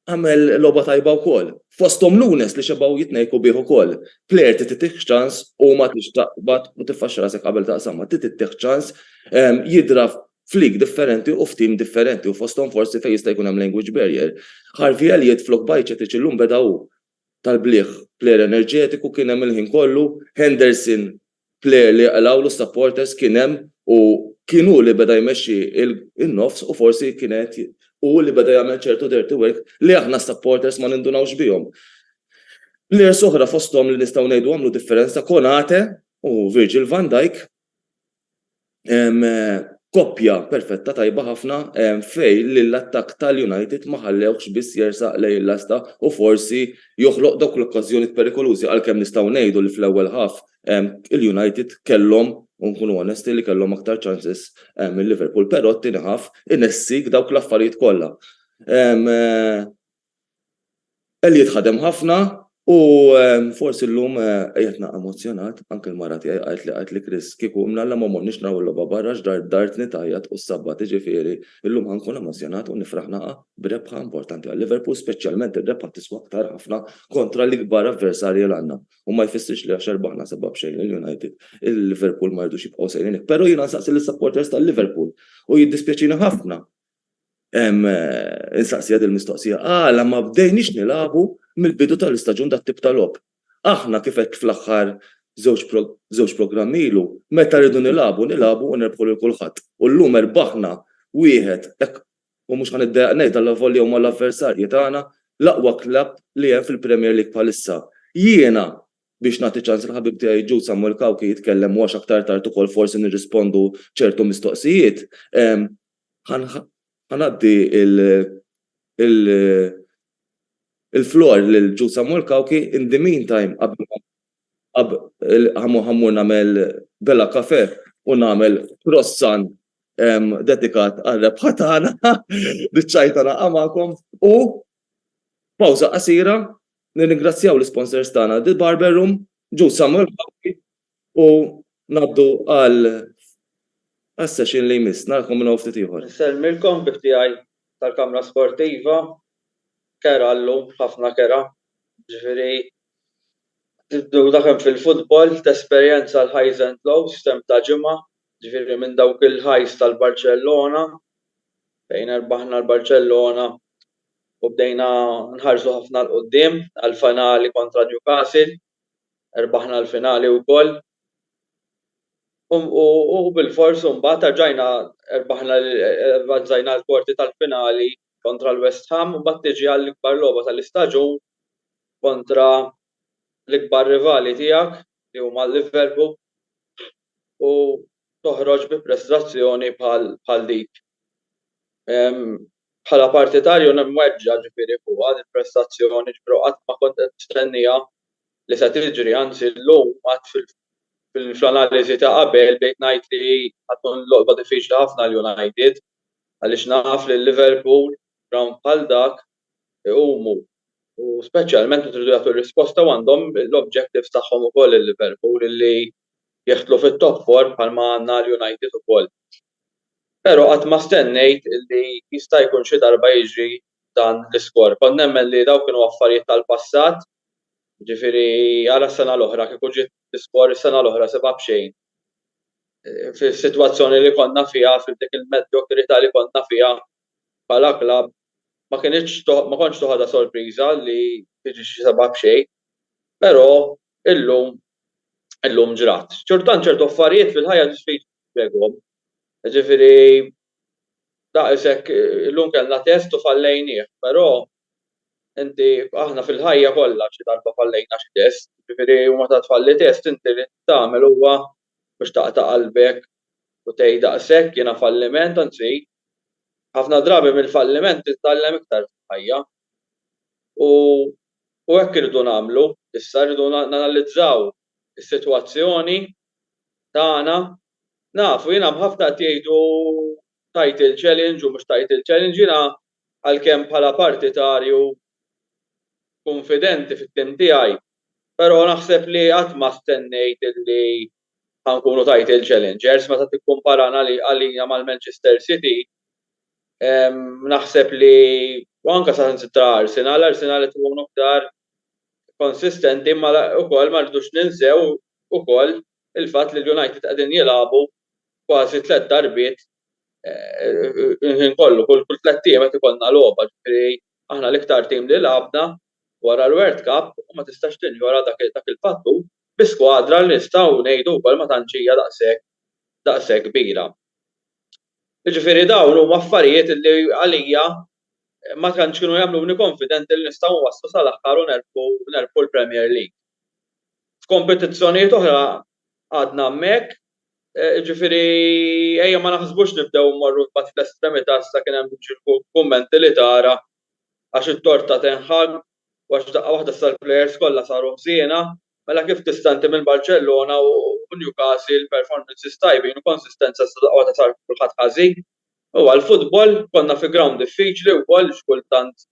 għamel logħba tajba wkoll. Fosthom Nunes li xebgħu jitnejku bih ukoll. Plejer trid titih ċans u ma tridx taqbad u tiffaxxa rasek qabel taqsamha. Trid ittih ċans jidhra f'league differenti u f'team differenti u fosthom forsi fejn jista' jkun hemm language barrier. Harvey Elliott flok Bajcetic illum beda hu tal-bliegħ player enerġetiku kien hemm il-ħin kollu, Henderson player li qlgħulu s-supporters kien hemm u kien hu li beda jmexxi n-nofs u forsi kien qed hu li beda jagħmel ċertu dirty work li aħna s-supporters ma nindunawx bihom. Players oħra fosthom li nistgħu ngħidu għamlu differenza Konate u Virgil van Dijk Koppja perfetta tajba ħafna fejn l-attakk tal-United ma ħallewhx biss jersaq lejn il-lasta u forsi joħloq dawk l-okkażjonijiet perikolużi għalkemm nistgħu ngħidu li fl-ewwel half il-United kellhom, u nkunu onesti, li kellhom aktar chances minn Liverpool, però t-tieni half inessik dawk l-affarijiet kollha. Elliot ħadem ħafna u forsi llum qiegħedna emozzjonat, anke l-mara tiegħi qaltli qaltli Chris kieku mnalla ma morniex naraw il-logħba barra għax dar dartni tgħajjat u ssabbat iġifieri llum ħa nkun emozzjonat u nifraħ naqgħa b'rebħa importanti għal Liverpool speċjalment ir-rebħa tiswa aktar ħafna kontra l-ikbar avversarji l-għandna u ma jfissirx li għax erbaħna sebgħa b'xejn lil United il-Liverpool ma jridux jibqgħu sejrin hekk pero jiena nsaqsi lis-supporters tal-Liverpool u jiddispjaċini ħafna Insaqsi għad il-mistoqsija, għala ma bdejniex nilagħbu mill-bidu tal-istaġun dat-tip ta' logħob? Aħna kif għedt fl-aħħar żewġ programmi ilu, meta rridu nilagħbu, nilagħbu u nerbħu lil kulħadd. U llum erbaħna wieħed, hekk, u mhux ħa niddejjaq ngħid allavolja huma l-avversarji tagħna, l-aqwa klabb li hemm fil-Premier League bħalissa. Jiena, biex nagħti ċans lill-ħabib tiegħi Jude Samuel Cauchi jitkellem u għax aktar tard ukoll forsi nirrispondu ċertu mistoqsijiet, Ħa ngħaddi l-floor lil Jude Samuel Cauchi. In the meantime qabel ma ħa mmur nagħmel Bella Cafè u nagħmel croissant dedikat għar-rebħa tagħna, biċċajta naqgħa magħkom u pawża qasira, nirringrazzjaw l-isponsors tagħna The Barber Room, Jude Samuel Cauchi U ngħaddu għal għas-session li jmiss. Narakom minn hawn ftit ieħor. Insellmilkom bi ħtijaj tal-Kamra Sportiva. Kera llum, ħafna kera. Ġifieri tibdew dak hemm fil-futbol, tesperjenza l-highs and lows f'temp ta' ġimgħa, ġifieri minn dawk il-highs tal-Barċellona fejn erbaħna l-Barċellona u bdejna nħarsu ħafna 'l quddiem għall-finali kontra Newcastle. Rbaħna l-finali wkoll u bilfors imbagħad erġajna rbaħna avvanzajna l-kwarti tal-finali kontra l-West Ham u mbagħad tiġi għall-ikbar logħba tal-istaġun kontra l-ikbar rivali tiegħek li huma l-Liverpool u toħroġ bi prestazzjoni bħal dik. Bħala partitarju nimweġġa' ġifieri fuqha dil-prestazzjoni ġifieri u qatt ma kont qed nistennieha li se tiġri anzi llum għad fl-analiżi ta' qabel bdejt ngħid li ħa tkun logħba diffiċli ħafna għal United għaliex naf li Liverpool f'grawnd bħal dak iqumu u speċjalment meta jridu jagħtu risposta u għandhom l-objectives tagħhom ukoll il-Liverpool li jeħtlu fit-top four bħalma għandna l-United ukoll. Pero qatt ma stennejt li jista' jkun xi darba jiġri dan l-iskor. Kont nemmen li dawk kienu affarijiet tal-passat, jiġifieri ara s-sena l-oħra kieku ġiet l-iskor is-sena l-oħra sibha b'xejn. Fis-sitwazzjoni li konna fiha, f'dik il-medjokrità li konna fiha bħala klabb, ma kinitx ma kontx toħodha sorpriża li tiġi xi sebgħa b'xejn. Pero illum illum ġrat. Xorta tant ċertu affarijiet fil-ħajja trid Spjegahom. Jiġifieri daqs hekk illum kellna test u fallejnieh, però inti aħna fil-ħajja kollha xi darba fallejna xi test, jiġifieri u meta tfalli test inti li tagħmel huwa mhux taqta' qalbek u tgħid daqs hekk jiena falliment, anzi ħafna drabi mill-falliment titgħallem iktar fil-ħajja. U u hekk irridu nagħmlu issa, irridu nanalizzaw is-sitwazzjoni tagħna. Naf, u jiena hemm ħafna qed jgħidu title challenge u mhux title challenge, jiena għalkemm bħala partitarju kunfidenti fit-tim tiegħi, però naħseb li qatt ma stennejt illi ħa nkunu title challengers meta tikkumparana għalina mal-Manchester City, naħseb li, u anke saħansitra Arsenal, Arsenal qed ikunu aktar konsistenti imma wkoll ma rridux ninsew ukoll il-fatt li l-United qegħdin jilagħbu kważi tliet darbiet il-ħin kollu, kull tliet ijiem qed ikollna logħba, ġifieri aħna l-iktar tim li lagħabna wara l-World Cup u ma tistax tinjora dak il-fattur bi skwadra li nistgħu ngħidu wkoll ma tantx hija daqshekk daqshekk kbira. Jiġifieri dawn huma affarijiet li għalija ma tantx kienu jagħmluni konfidenti li nistgħu nwasslu sal-aħħar u nerbħu l-Premier League. F'kompetizzjonijiet oħra għadna hemmhekk, jiġifieri ejja ma naħsbux nibdew immorru mbagħad fl-estremità issa kien hemm kummenti li tara għax it-tort ta' Ten Hag u għax f'daqqa waħda issa l-plejers kollha saru ħżiena, mela kif tista' inti minn Barċellona u Newcastle performances tajbin u konsistenza issa daqqa waħda sar kulħadd ħażin? U għall-futbol, konna fi grawnd diffiċli wkoll x'kultant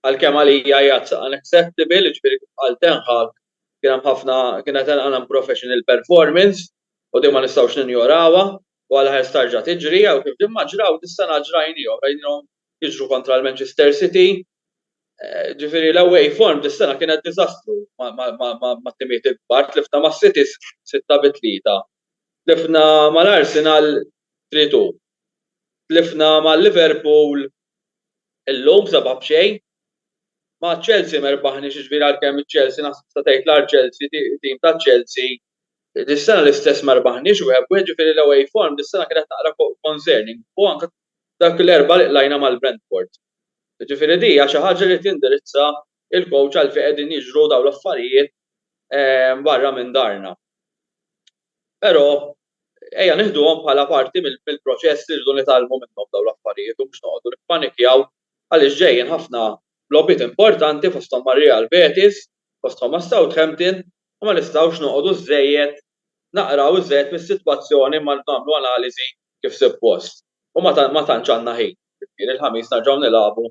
għalkemm għalija hi unacceptable, jiġifieri kif qal Ten Hag kien hemm ħafna, kienet hemm unprofessional performance u din ma nistgħux ninjorawha u għala ħerz tarġa' tiġri jew kif din ma ġraw dis-sena ġrajnihom, rajnihom jiġru kontra l-Manchester City. Jiġifieri l-away form dis-sena kienet diżastru mat-timijiet il-kbar, tlifna mas-City sitta bi tlieta. Tlifna mal-Arsenal 3 2. Tlifna ma' Liverpool illum 7 b'xejn. Ma' Chelsea ma rbaħniex jiġifieri għalkemm iċ-Chelsea naħseb tista' tgħid l-Archelsea tim taċ-Chelsea. Dis-sena l-istess ma rbaħniex wieħed b'wieħed jiġifieri l-away form dis-sena kienet naqra concerning u anke dak l-Erbgħa li qlajna mal-Brentford. Jiġifieri di hija xi ħaġa li tindirizza l-coach għalfejn qegħdin jiġru dawn l-affarijiet barra minn darna. Però ejja nieħduhom bħala parti mill-proċess li rridu nitgħallmu minnhom dawn l-affarijiet u mhux noqogħdu nippanikjaw għaliex ġejjin ħafna logħbiet importanti fosthom ma' Real Betis, fosthom ma' Southampton u ma nistgħux noqogħdu żżejjed naqraw iżżejjed mis-sitwazzjoni ma nagħmlu analiżi kif suppost. U ma tantx għandna ħin. Ġifieri l-Ħamis nerġgħu nilagħbu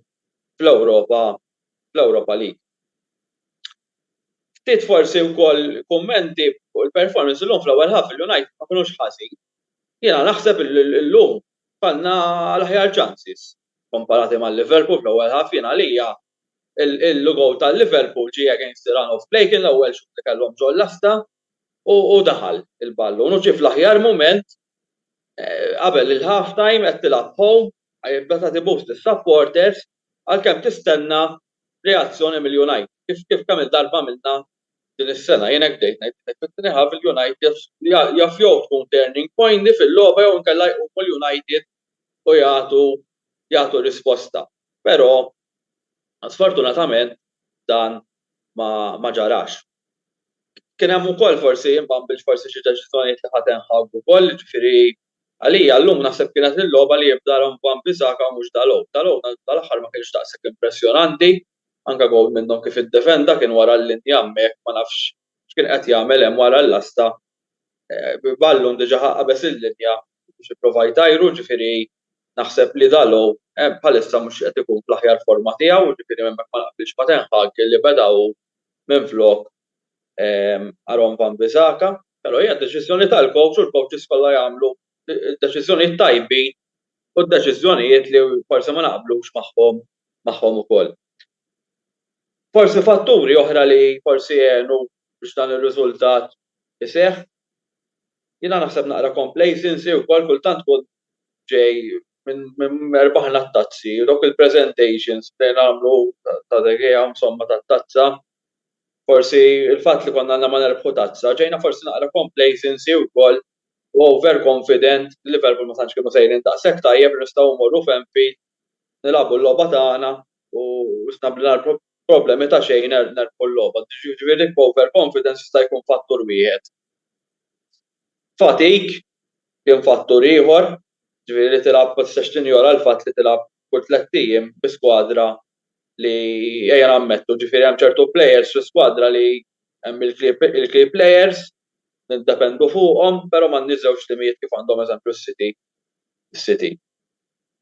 fl-Ewropa fl-Europa League. Ftit forsi wkoll kummenti fuq il-performance illum fl-ewwel half il-United ma kinux ħażin. Jiena naħseb illum kellna l-aħjar chances komparati ma' Liverpool fl-ewwel half jien għalija il-goal ta' Liverpool ġie against the run of play kien l-ewwel xutt li kellhom ġo l-lasta u daħal il-ballun u ġie fl-aħjar mument qabel il-half time qed tilgħab home għajr meta tibus lis-supporters għalkemm tistenna reazzjoni mill-United, kif kif kemm-il darba għamilna din is-sena. Jien hekk bdejt ngħid, bdejt mit-tieni ħaf, il-United jaf jew tkun turning point di fil-logħba jew inkella jqumu l-United u jagħtu jagħtu risposta. Però sfortunatament dan ma ma ġarax. Kien hemm ukoll forsi, jien ma nbilx forsi xi deċiżjonijiet li ħa Ten Hag ukoll, jiġifieri għalija llum naħseb kienet il-logħba li jibda Aaron Wan-Bissaka u mhux Dalot. Dalot tal-aħħar ma kienx daqshekk impressjonanti, anke gowl minnhom kif iddefenda kien wara l-linja hemmhekk ma nafx x'kien qed jagħmel hemm wara l-lasta b'ballun diġa ħa qabeż il-linja biex ipprova jtajru, jiġifieri naħseb li Dalot bħalissa mhux qed ikun fl-aħjar forma tiegħu, jiġifieri hemmhekk ma naqbilx ma' Ten Hag li beda hu minflok Aaron Wan-Bissaka. Però hija deċiżjoni tal-kowċ u l-kowċis kollha jagħmlu d-deċiżjonijiet tajbin u d-deċiżjonijiet li forsi ma naqblux magħhom magħhom ukoll. Forsi fatturi oħra li forsi għenu biex dan ir-riżultat iseħħ, jiena naħseb naqra complacency wkoll kultant tkun ġej minn erbaħna t-tazzi, dawk il-presentations li nagħmlu ta' De Gea insomma tat-tazza, forsi l-fatt li konna għadna ma nerbħu tazza, ġejna forsi naqra complacency wkoll u over confident li Liverpool ma tantx kienu sejrin daqshekk tajjeb li nistgħu mmorru f'Anfield nilagħbu l-logħba tagħna u isna mingħajr problemi ta' xejn nerbħu l-logħba. Jiġifieri l-over confidence jista' jkun fattur wieħed. Fatig kien fattur ieħor, ġifieri li tilgħab ma tistax tinjora l-fatt li tilgħab kull tlett ijiem bi skwadra li ejja nammettu, ġifieri hemm ċertu plejers fl-iskwadra li hemm il-key plejers, niddependu fuqhom, però m'għandniex żewġ timijiet kif għandhom eżempju s-City.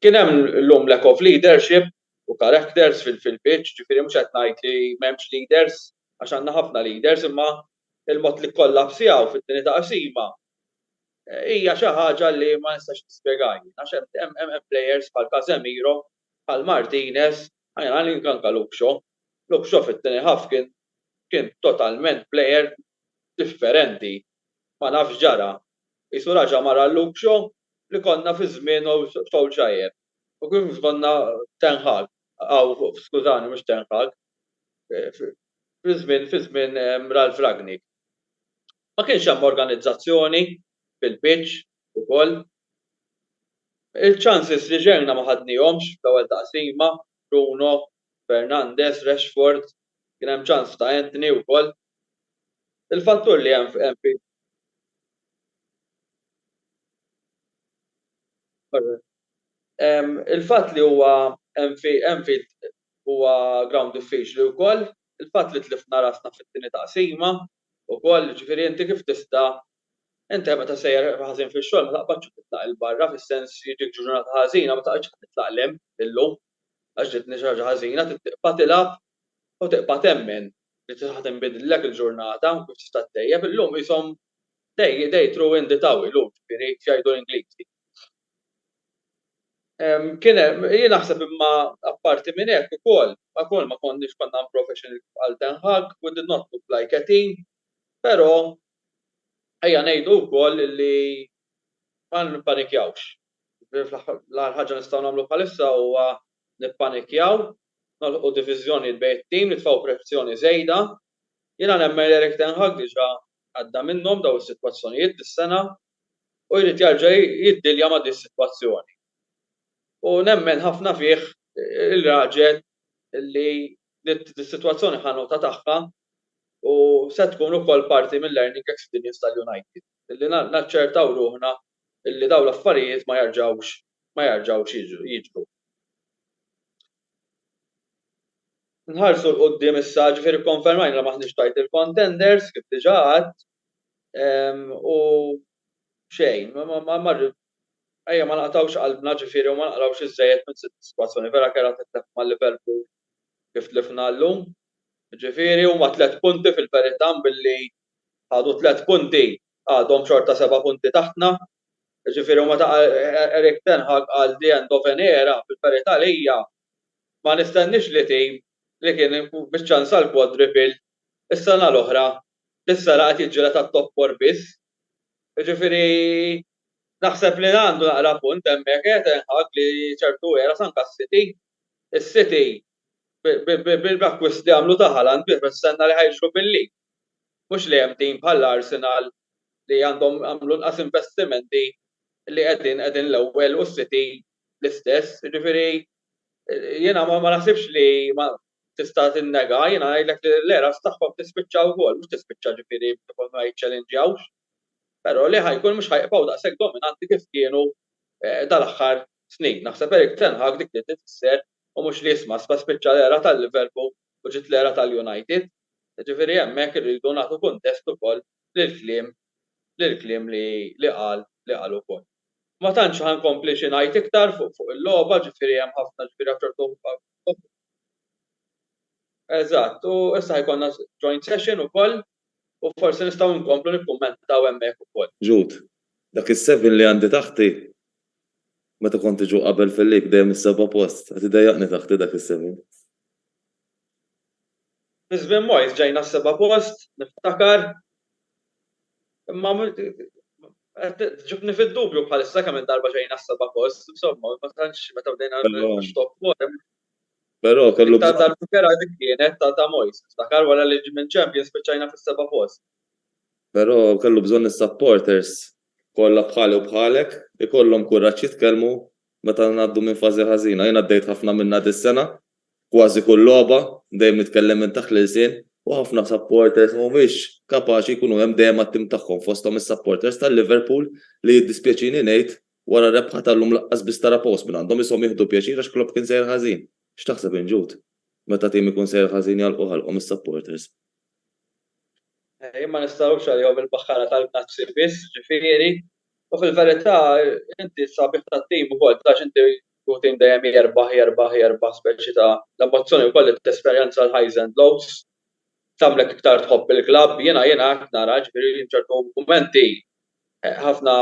Kien hemm illum lack of leadership u characters fil-pitch, ġifieri mhux qed ngħid li m'hemmx leaders għax għandna ħafna leaders imma Il-mod li kkollapsjaw fit-tieni taqsima hija xi ħaġa li ma nistax nispjegha jien għax hemm hemm plejers bħal Casemiro, bħal Martinez, anke anke Luke Shaw. Luke Shaw fit-tieni half kien kien totalment plejer differenti. Ma nafx x'ġara. Qisu raġa' mar għal Luke Shaw li konna fi żmienu Solskjaer u kif konna Ten Hag, aw skużani mhux Ten Hag, fi żmien fi żmien Ralph Ragnick. Ma kienx hemm organizzazzjoni fil-pitch ukoll. Il-chances li xerna ma ħadnihomx fl-ewwel taqsima, Bruno, Fernandes, Rashford, kien hemm chance ta' Antony wkoll. Il-fattur li hemm fi. Il-fatt li huwa Anfield Huwa ground diffiċli wkoll il-fatt li tlifna rasna fit-tieni taqsima wkoll, jiġifieri inti kif tista' inti meta sejjer ħażin fix-xogħol ma taqbadx u titlaq 'il barra fis-sens li ġiek ġurnata ħażina ma taqgħodx titlaq 'l hemm illum għax ġietni xi ħaġa ħażina, trid tibqa' tilgħab u tibqa' temmen li ħa tinbidillek il-ġurnata u kif tista' ttejjeb illum qishom they they threw in the towel illum jiġifieri x'jgħidu l-Ingliżi. Kien hemm, jien naħseb imma apparti minn hekk ukoll, ukoll ma konniex konna unprofessional bħal Ten Hag, we did not look like a team, però ejja ngħidu wkoll li ma nippanikjawx. L-agħar ħaġa nistgħu nagħmlu bħalissa huwa nippanikjaw, noħolqu diviżjonijiet bejn it-tim, nitfgħu pressjoni żejda. Jiena nemmen li Erik Ten Hag diġà għadda minnhom dawn is-sitwazzjonijiet dis-sena, u jrid jarġa' jiddilja ma' din is-sitwazzjoni. U nemmen ħafna fih ir-raġel li dis-sitwazzjoni ħa nota tagħha u se tkun ukoll parti mill-learning experience tal-United, li naċċertaw ruħna li dawn l-affarijiet ma jarġgħux ma jarġgħux jiġru. Nħarsu 'l quddiem issa, ġifieri kkonfermajna li m'aħniex title contenders, kif diġà għedt, u xejn, ma marru, ejja ma naqtgħux qalbna ġifieri u ma naqrawx iżżejjed minn sitt is-sitwazzjoni vera kerha titlef ma' Liverpool kif tlifna llum, ġifieri huma tliet punti fil-verità billi ħadu tliet punti għadhom xorta seba' punti taħtna, ġifieri huma ta' Erik ten Hag qal the end of an era, fil-verità lija ma nistenniex li tim li kien biċ-ċans għall-quadruple is-sena l-oħra Issa laqgħet jiġġieled għat-top four biss. Jiġifieri naħseb li għandu naqra punt hemmhekk qiegħed Ten Hag li ċertu eras anke s-City. Is-City bil-acquist li għamlu ta' Haaland bih mistenna li ħa jiġru bil-league. Mhux li hemm team bħal Arsenal li għandhom għamlu inqas investimenti li qegħdin qegħdin l-ewwel u s-City l-istess. Jiġifieri jiena ma naħsibx li tista' tinnega, jiena ngħidlek li l-eras tagħhom tispiċċa wkoll, mhux tispiċċa ġifieri ikollhom ma jiċċelenġjawx, però li ħa jkun mhux ħa jibqgħu daqshekk dominanti kif kienu dal-aħħar snin. Naħseb Erik ten Hag dik li tfisser u mhux li isma' isma' spiċċa l-era tal-Liverpool u ġiet l-era tal-United. Ġifieri hemmhekk irridu nagħtu kuntest ukoll lill-kliem lill-kliem li li qal li qal ukoll. Ma tantx ħa nkompli xi ngħid iktar fuq fuq il-logħba, ġifieri hemm ħafna ġifieri għaċ-ċertu Eżatt, u issa ħajkollna joint session ukoll u forsi nistgħu nkomplu nikkummentaw hemmhekk ukoll. Jude, Dak is-seven li għandi taħti, meta kont iġu qabel fil-lig dejjem is-seba' post, qed idejjaqni taħti dak is-seven. Fi żmien Moyes ġejna s-seba' post, niftakar. Imma qed ġibni fid-dubju bħalissa kemm-il darba ġejna s-seba' post, insomma, ma tantx meta bdejna nix-top four. Però kellu bżonn. L-iktar darba kerha dik kienet ta' Moyes, niftakar, wara li minn Champions spiċċajna fis-seba' post. Però kellu bżonn is-supporters kollha bħali u bħalek, ikollhom kuraġġ jitkellmu Meta ngħaddu minn fażi ħażina. Jien għaddejt ħafna minnha dis-sena. Kważi kull logħba, dejjem nitkellem minn taħt l-ilsien. U ħafna supporters mhumiex kapaċi jkunu hemm dejjem għat-tim tagħhom, fosthom is-supporters ta' Liverpool li jiddispjaċini ngħid, wara r-rebħa tal-lum lanqas biss tara post minn għandhom, ishom jieħdu pjaċir għax Klopp kien sejjer ħażin. X'taħseb int Jude? Meta tim ikun sejjer ħażin jagħlqu ħalqhom is-supporters. Jien ma nistagħrobx għalihom il-baħħara tal-Għnazzi biss, ġifieri, U fil-verità, inti s-sabiħ tat-tim ukoll, għax inti u tim dejjem jerbaħ, jerbaħ, jerbaħ, speċi ta' l-emozzjoni wkoll li tesperjenza l-highs and lows tagħmlek iktar tħobb il-klabb. Jiena jiena hekk nara, jiġifieri f'ċertu mumenti ħafna,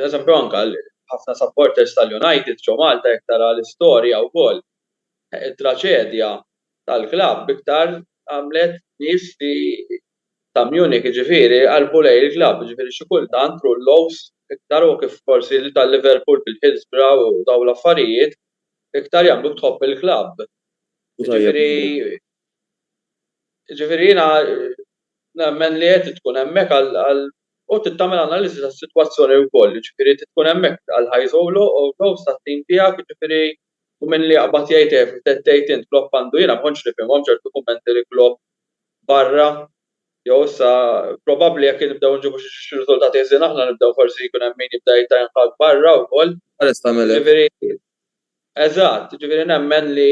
eżempju anke ħafna supporters tal-United ġo Malta jekk tara l-istorja wkoll, it-traċedja tal-klabb iktar għamlet nies li ta' Munich jiġifieri jqarrbu lejn il-klabb jiġifieri xi kultant Rullo's iktar u kif forsi ta' Liverpool bil-Hillsborough u dawn l-affarijiet iktar jagħmluk tħobb il-klabb jiġifieri jiġifieri jiena nemmen li qed tkun hemmhekk għal u trid tagħmel analiżi tas-sitwazzjoni wkoll jiġifieri trid tkun hemmhekk għal highs u lows tat-tim tiegħek jiġifieri u min li jaqbad jgħid eh tgħid int Klopp għandu jiena ma kontx nifhimhom ċertu kummenti li Klopp barra jew issa probabbli jekk nibdew nġibu xi riżultati ħżiena aħna nibdew forsi jkun hemm min jibda jgħid jinħatt barra wkoll. Qares tagħmel hekk. Jiġifieri eżatt, jiġifieri nemmen li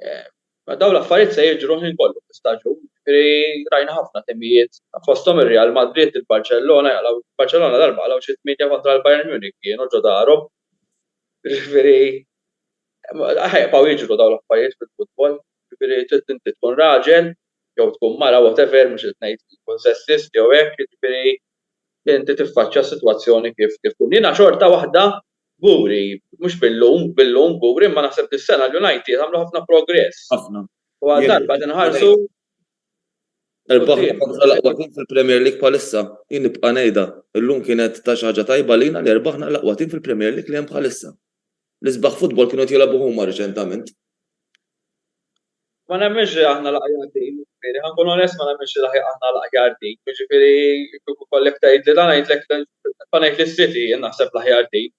dawn l-affarijiet se jiġru l-ħin kollu fl-istaġun. Jiġifieri rajna ħafna timijiet fosthom ir-Real Madrid, il-Barċellona jaqlgħu, il-Barċellona darba qalgħu xi tmienja kontra l-Bayern Munich kienu ġo darhom. Jiġifieri. Ħajqbgħu jiġru dawn l-affarijiet fil-futbol, jiġifieri trid inti tkun raġel jew tkun mara whatever mhux qed ngħid tkun sessist jew hekk jiġifieri inti tiffaċċja s-sitwazzjoni kif kif tkun. Jiena xorta waħda kburi, mhux billum, billum kburi imma naħseb dis-sena l-United għamlu ħafna progress. Ħafna. U għal darba qed inħarsu Irbaħna l-aqwa tim fil-Premier League bħalissa, jien nibqa' ngħidha. Illum kienet ta' xi ħaġa tajba lina li rbaħna l-aqwa tim fil-Premier League li hemm bħalissa. L-isbaħ futbol kienu qed jilgħbu huma riċentament. Ma nemminx li aħna l-aħjar tim, jiġifieri ħa nkun onest ma nemminx li aħna l-aħjar tim, jiġifieri kieku jkollek tgħidli dan ngħidlek ħa ngħid li s-City hi naħseb l-aħjar tim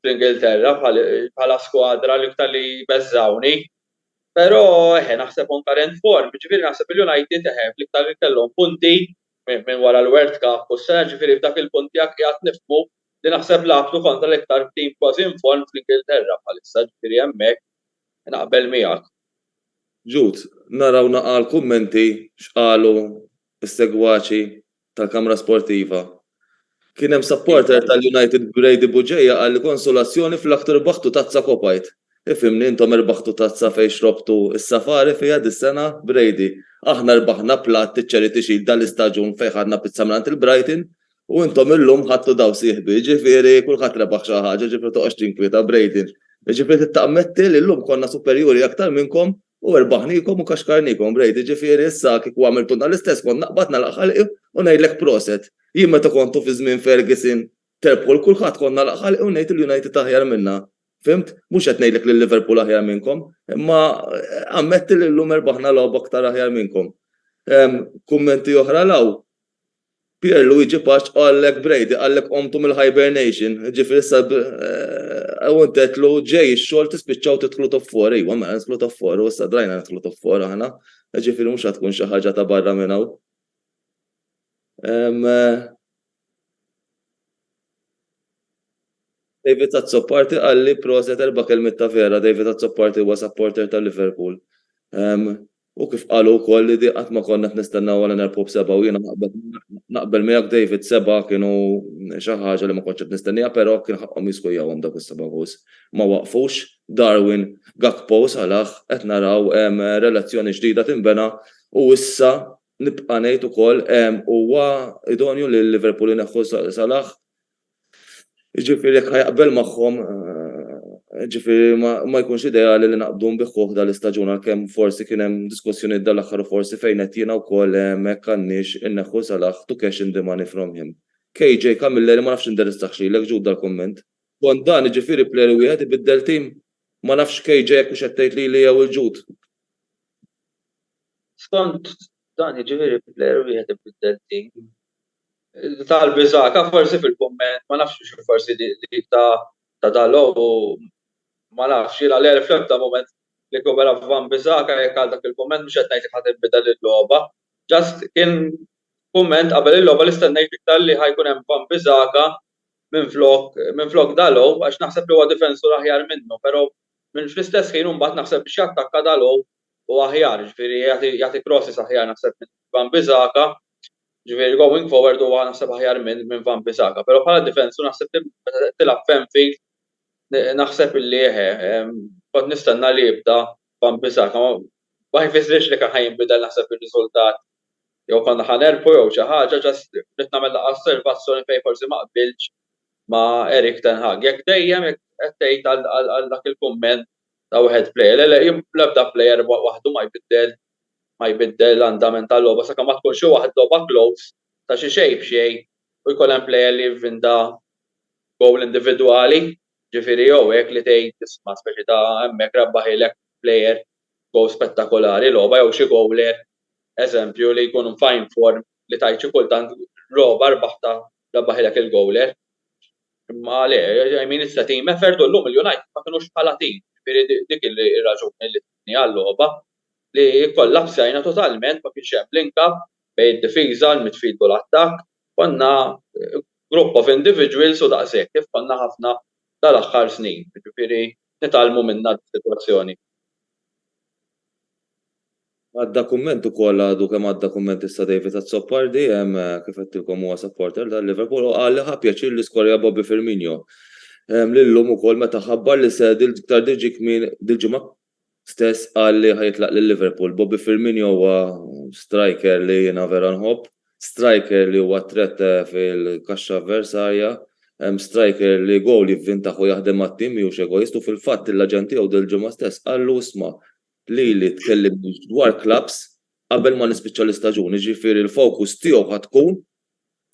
fl-Ingilterra bħala skwadra l-iktar li jbeżżgħuni. Però eħe naħseb on current form, jiġifieri naħseb il-United eħe l-iktar li kellhom punti minn wara l-World Cup u s-sena jiġifieri f'dak il-punt tiegħek qiegħed nifhmu li naħseb l-għaqdu kontra l-iktar tim kważi inform fl-Ingilterra bħalissa, ġifieri hemmhekk naqbel miegħek. Jude, naraw naqra l-kummenti x'qalu s-segwaċi tal-kamra sportiva. Kien hemm supporter tal-United Brady Bugeja qal li konsolazzjoni flakk tirbaħtu tazza Kopajt. Ifhimni intom irbaħtu tazza fejn xrobtu s-safari fiha dis-sena? Brady, Aħna rbaħna platt iċ-Charity Shield dal-istaġun fejn ħadna pizza mingħand il-Brighton U intom illum ħadtu dawl sieħbi, jiġifieri kulħadd rebaħ xi ħaġa, jiġifieri toqgħodx tinkwieta, Braden. Jiġifieri trid tammetti li llum konna superjuri aktar minnkom u erbaħniekom u kaxkarniekom, Braden, jiġifieri issa kieku għamiltulna l-istess kont naqbad nagħlaq ħalqi u ngħidlek proset. Jien meta kontu fi żmien Ferguson terbħu 'l kulħadd kont nagħlaq ħalqi u ngħid il-United aħjar minna. Fhimt? Mhux qed ngħidlek li l-Liverpool aħjar minnkom, imma ammetti li llum erbaħna logħba aktar aħjar minnkom. Kummenti oħra 'l hawn? Pier Luigi Paċ qallek Brady qallek qomtu mill hibernation ġifieri issa u int għedtlu ġej ix-xogħol tispiċċaw tidħlu top four ejwa mela nidħlu top four u issa drajna nidħlu top four aħna ġifieri mhux ħa tkun xi ħaġa ta' barra minn hawn. David Azzopardi qalli proset erba' kelmiet ta' vera David Azzopardi huwa supporter ta' Liverpool. U kif qalu wkoll li di qatt ma konna qed nistennew għal Enerpub Seba' u jiena naqbel naqbel miegħek David seba' kienu xi ħaġa li ma kontx qed nistennieha però kien ħaqqhom jiskujjawhom dawk is-seba' gowls. Ma waqfux. Darwin, Gakpo u Salah qed naraw relazzjoni ġdida tinbena u issa nibqa' ngħid ukoll huwa idonju li Liverpool ineħħu Salah Jiġifieri jekk ħa jaqbel magħhom, jiġifieri ma jkunx ideali li naqbdu nbiħħuh dal-istaġun għalkemm forsi kien hemm diskussjonijiet dal-aħħar u forsi fejnet jiena wkoll hemmhekk għandniex inneħħu Salah to cash in the money from him. KJ, Camilleri ma nafx indirizzahx lilek Jude dal-kumment. Skont dan jiġifieri player wieħed ibiddel tim? Ma nafx KJ jekk hux qed tgħid lili jew lil Jude. Skont dan jiġifieri player wieħed ibiddel tim? Talbi Zaka forsi fil-kumment ma nafx xi forsi dik ta' ta' dalgħu ma nafx jiena Leri fl-ebda mument nikkopera ma' Bambi Zaka jekk għal dak il-kumment mhux qed ngħid jekk ħa tinbidel il-logħba just kien kumment qabel il-logħba li stennejt iktar li ħa jkun hemm Bambi Zaka minflok minflok dalgħu għax naħseb li huwa difensur aħjar minnu pero' minn fl-istess ħin u mbagħad naħseb biex jattakka dalgħu u aħjar, jiġifieri jagħti jagħti crosses aħjar naħseb minn Van Bissaka, jiġifieri going forward huwa naħseb aħjar minn minn Van Bissaka. Però bħala difensur naħseb li meta qed tilgħab f'Anfield naħseb li eħe, kont nistenna li jibda Van Bissaka. Ma jfissirx li kien ħa jinbidel naħseb ir-riżultat jew konna ħa nerbħu jew xi ħaġa, just ridt nagħmel daqqa osservazzjoni fejn forsi ma qbiltx ma' Erik ten Hag. Jekk dejjem qed tgħid għal dak il-kumment ta' wieħed plejer. Le, le, l-ebda plejer waħdu ma jbiddel ma jbiddel l-andament tal-logħba sakemm ma tkun xi waħd logħba close ta' xi xejn b'xejn u jkun hemm plejer li jivvinta gowl individwali, ġifieri jew hekk li tgħid isma' speċi ta' hemmhekk rebbaħilek plejer gowl spettakolari logħba jew xi gowler, eżempju, li jkun f'fine form li tgħid xi kultant logħba rbaħtha Rebbaħilek il-gowl hekk. Imma le, I mean it's a team effort u llum il-United ma kinux bħala tim. Jiġifieri dik ir-raġuni li tlifni għal-logħba li kkollapsajna totalment ma kienx hemm link up bejn id-difiża, il-midfield u l-attakk. Konna group of individuals u daqshekk kif konna ħafna dal-aħħar snin. Jiġifieri nitgħallmu minnha dis-sitwazzjoni. Għadda kumment ukoll għadu kemm għadda kumment issa David Azzopardi, kif għedtilkom huwa supporter ta' Liverpool u qal li ħa pjaċir li skorja Bobby Firmino li llum ukoll meta ħabbar li se iktar diġi kmieni dil-ġimgħa stess qal li ħa jitlaq lil Liverpool. Bobby Firmino huwa striker li jiena vera nħobb, striker li huwa threat fil-kaxxa avversarja, striker li goal jivvintaħ u jaħdem għat-tim mhijiex egoist u fil-fatt il-aġent tiegħu dil-ġimgħa stess qallu isma' Lili tkellimniex dwar clubs qabel ma nispiċċa l-istaġun, jiġifieri l-focus tiegħu ħa tkun,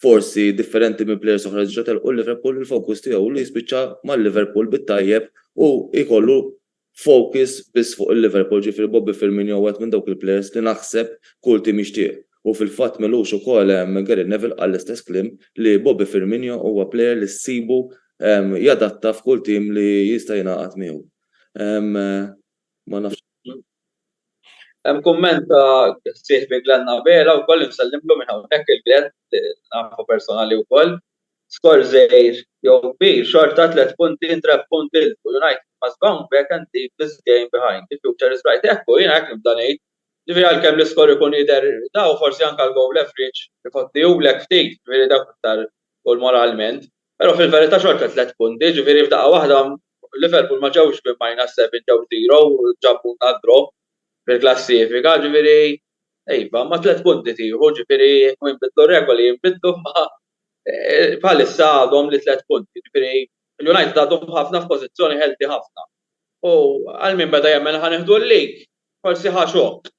forsi differenti minn players oħra li diġa' telqu l-Liverpool, il-focus tiegħu hu li jispiċċa mal-Liverpool bit-tajjeb u jkollu focus biss fuq il-Liverpool, jiġifieri Bobby Firmino huwa wieħed minn dawk il-players li naħseb kull tim jixtieq u fil-fatt m'ilux ukoll Gary Neville qal l-istess kliem li Bobby Firmino huwa player li ssibu jadatta f'kull tim li jista' jingħaqad miegħu. Ma nafx. Hemm kumment ta' sieħbi Glenn Abela wkoll li nsellimlu minn hawnhekk lil Glenn li nafu personali wkoll. Skor żgħir jew kbir xorta tliet punti in trap punti il fuq. United must bounce back and leave this game behind. The future is bright. Hekk hu, jiena hekk nibda ngħid. Ġifieri għalkemm l-iskor ikun jidher daw, forsi anke l-goal average ifottihulek ftit, ġifieri dak iktar hu l-moralment. Però fil-verità xorta tliet punti, jiġifieri f'daqqa waħda Liverpool ma ġewx minn minus seven ġew zero u ġabulna d-draw fil-klassifika, jiġifieri iva, imma tliet punti tieħu, jiġifieri jekk jinbidlu r-regoli jinbidlu imma bħalissa għadhom li tliet punti, jiġifieri l-United għadhom ħafna f'pożizzjoni healthy ħafna. U għal min beda jemmen li ħa nieħdu l-league, forsi ħa xokk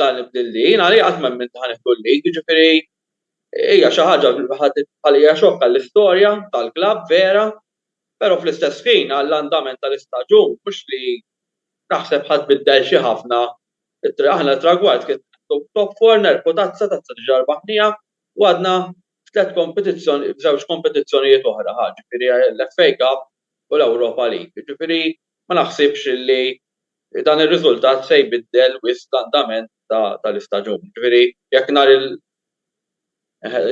dan il-bdil li jien għalija qatt ma emmind li ħa nieħdu l-league, jiġifieri Hija xi ħaġa li ħadet bħalija xokk għall-istorja tal-klabb vera, però fl-istess ħin għall-andament tal-istaġun mhux li naħseb ħa tbiddel xi ħafna. Aħna t-tragward kien neħħtu top four nerbħu tazza, tazza diġà rbaħnieha u għadna f'tliet kompetizzjonijiet, f'żewġ kompetizzjonijiet oħra ħa, ġifieri l-FA Cup u l-Europa League. Ġifieri ma naħsibx li dan ir-riżultat se jbiddel wisq l-andament tal-istaġun. Jiġifieri jekk nhar il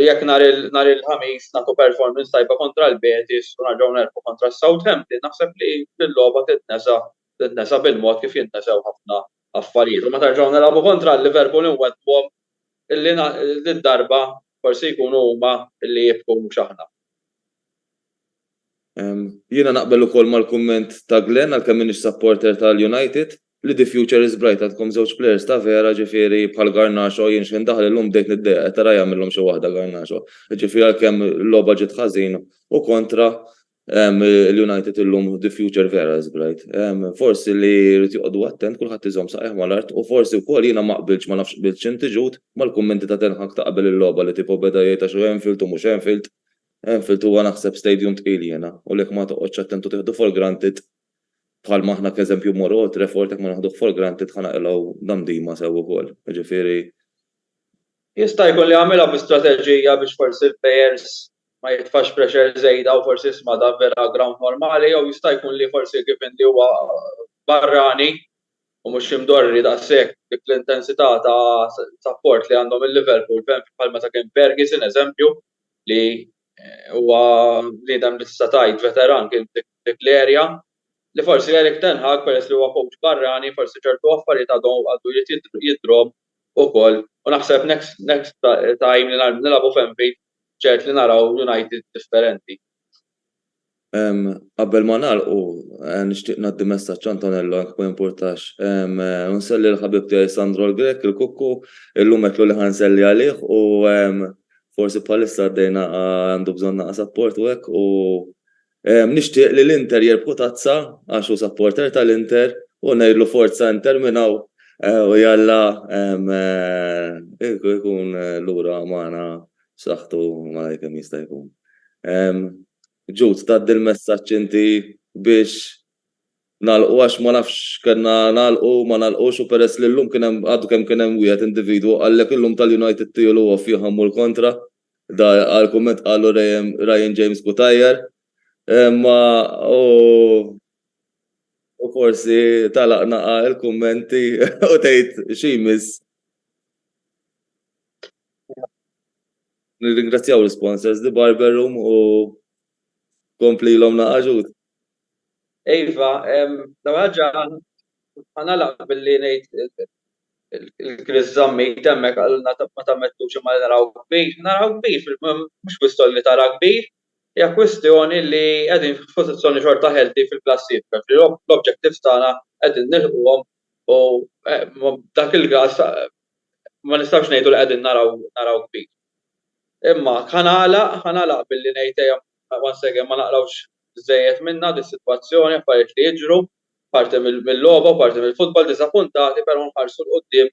jekk nhar il nhar il-Ħamis nagħtu performance tajba kontra l-Betis u nerġgħu nerbħu kontra s-Southampton naħseb li l-logħba titnesa titnesa bil-mod kif jintnesew ħafna affarijiet. U meta nerġgħu nilagħbu kontra l-Liverpool inweddwhom li did-darba Forsi jkunu huma li jibku mhux aħna. Jiena naqbel ukoll mal-kumment ta' Glenn għalkemm m'iniex supporter tal-United, li the future is bright għandkom żewġ players ta' vera ġifieri bħal Garnacho jien x'ħin daħal illum bdejt niddejjaq qed ara jagħmilhom xi waħda Garnacho. Ġifieri għalkemm il-logħba ġiet ħażin u kontra Il-United illum the future vera is bright. Forsi li jrid joqogħdu attent kulħadd iżomm saqajh mal-art u forsi wkoll jiena ma qbiltx ma nafx qbiltx inti Jude mal-kummenti ta' Ten Hag ta' qabel il-logħba li tipo beda jgħid għax hu Anfield u mhux Anfield. Anfield huwa naħseb stadium tqil jiena u l-hekk ma toqgħodx attent u tieħdu for granted bħalma aħna k'eżempju mmorru Old Trafford hekk ma naħduh for granted ħa naqilgħu damdima sew ukoll. Jiġifieri Jista' jkun li għamilha bi strateġija biex forsi l-players ma jitfax pressure żejda u forsi jisma' dan vera ground normali jew jista' jkun li forsi given li huwa barrani u mhux imdorri daqshekk dik l-intensità ta' sapport li għandhom il-Liverpool bħal meta kien Ferguson eżempju li huwa bniedem li tista' tgħid veteran kien f'dik l-area li forsi Erik Ten Hag peress li huwa coach barrani forsi ċertu affarijiet għadu jrid jidhrom ukoll u naħseb next next time li nilagħbu f'Anfield ċert li naraw United differenti. Qabel ma nagħlqu nixtieq ngħaddi messaġġ Antonello jekk ma jimpurtax. U nselli l-ħabib tiegħi Sandro l-Grek, il-Kukku, illum għedtlu li ħa nselli għalih u forsi bħalissa għaddejna għandu bżonn naqas apport u hekk u Nixtieq li l-Inter jirbħu tazza għax hu supporter tal-Inter u ngħidlu forza Inter minn hawn u jalla jkun lura magħna b'saħħtu malajr kemm jista' jkun. Jude tgħaddi l-messaġġ inti biex nagħlqu għax ma nafx kellna nagħlqu ma nagħlqux u peress li llum kien hemm għadu kemm kien hemm wieħed individwu qallek illum tal-United tiegħu l-għofja ħammu l-kontra. Dak għall-kumment qalu Ryan James Cutajar, imma hu u forsi tagħlaq naqa' l-kummenti u tgħid xi jmiss. Nirringrazzjaw l-isponsors The Barber Room u komplilhom naqa' ġud. Iva, l-ewwel ħaġa ħa nagħlaq billi ngħid Il-Kris żammit hemmhekk qalilna ma tammettux imma li naraw kbir. Naraw kbir fil-, mhux kwistjoni li tara kbir, hija kwistjoni li qegħdin f'pożizzjoni xorta healthy fil-klassifika, ġifieri l-objectives tagħna qegħdin nilħquhom u f'dak il-każ ma nistgħux ngħidu li qegħdin naraw naraw kbir. Imma ħa nagħlaq, ħa nagħlaq billi ngħid ejja once again ma naqrawx żejjed minnha dis-sitwazzjoni, affarijiet li jiġru, Parti mil-logħba u parti mill-futbol diżappuntati però nħarsu 'l quddiem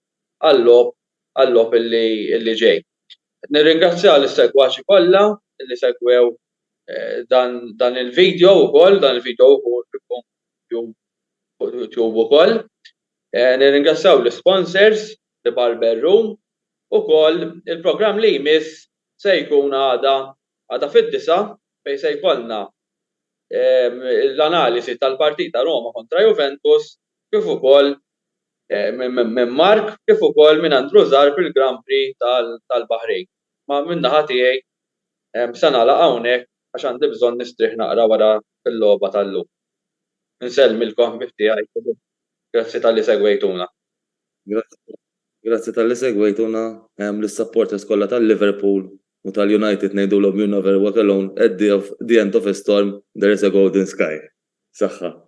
għal-logħob għal-logħob li ġej. Nirringrazzja lis-segwaċi kollha li segwew dan dan il-video ukoll, dan il-video jkun fuq YouTube ukoll. Nirringrazzjaw l-isponsors, The Barber Room, ukoll il-programm li jmiss se jkun għada Għada fid-disgħa, fejn se jkollna l-analiżi tal-partita Roma kontra Juventus kif ukoll minn Mark kif ukoll minn Andrew Zarb il-Grand Prix tal-Baħrejn. Ma minn naħa tiegħi se nagħlaq hawnhekk għax għandi bżonn nistrieħ naqra wara l-logħba tal-lum. Insellem il-koħbieb tiegħi u grazzi talli segwejtuna. Grazzi talli segwejtuna lis-supporters kollha tal-Liverpool. U tal-United ngħidulhom you never walk alone at the of the end of a storm there is a golden sky. Saħħa.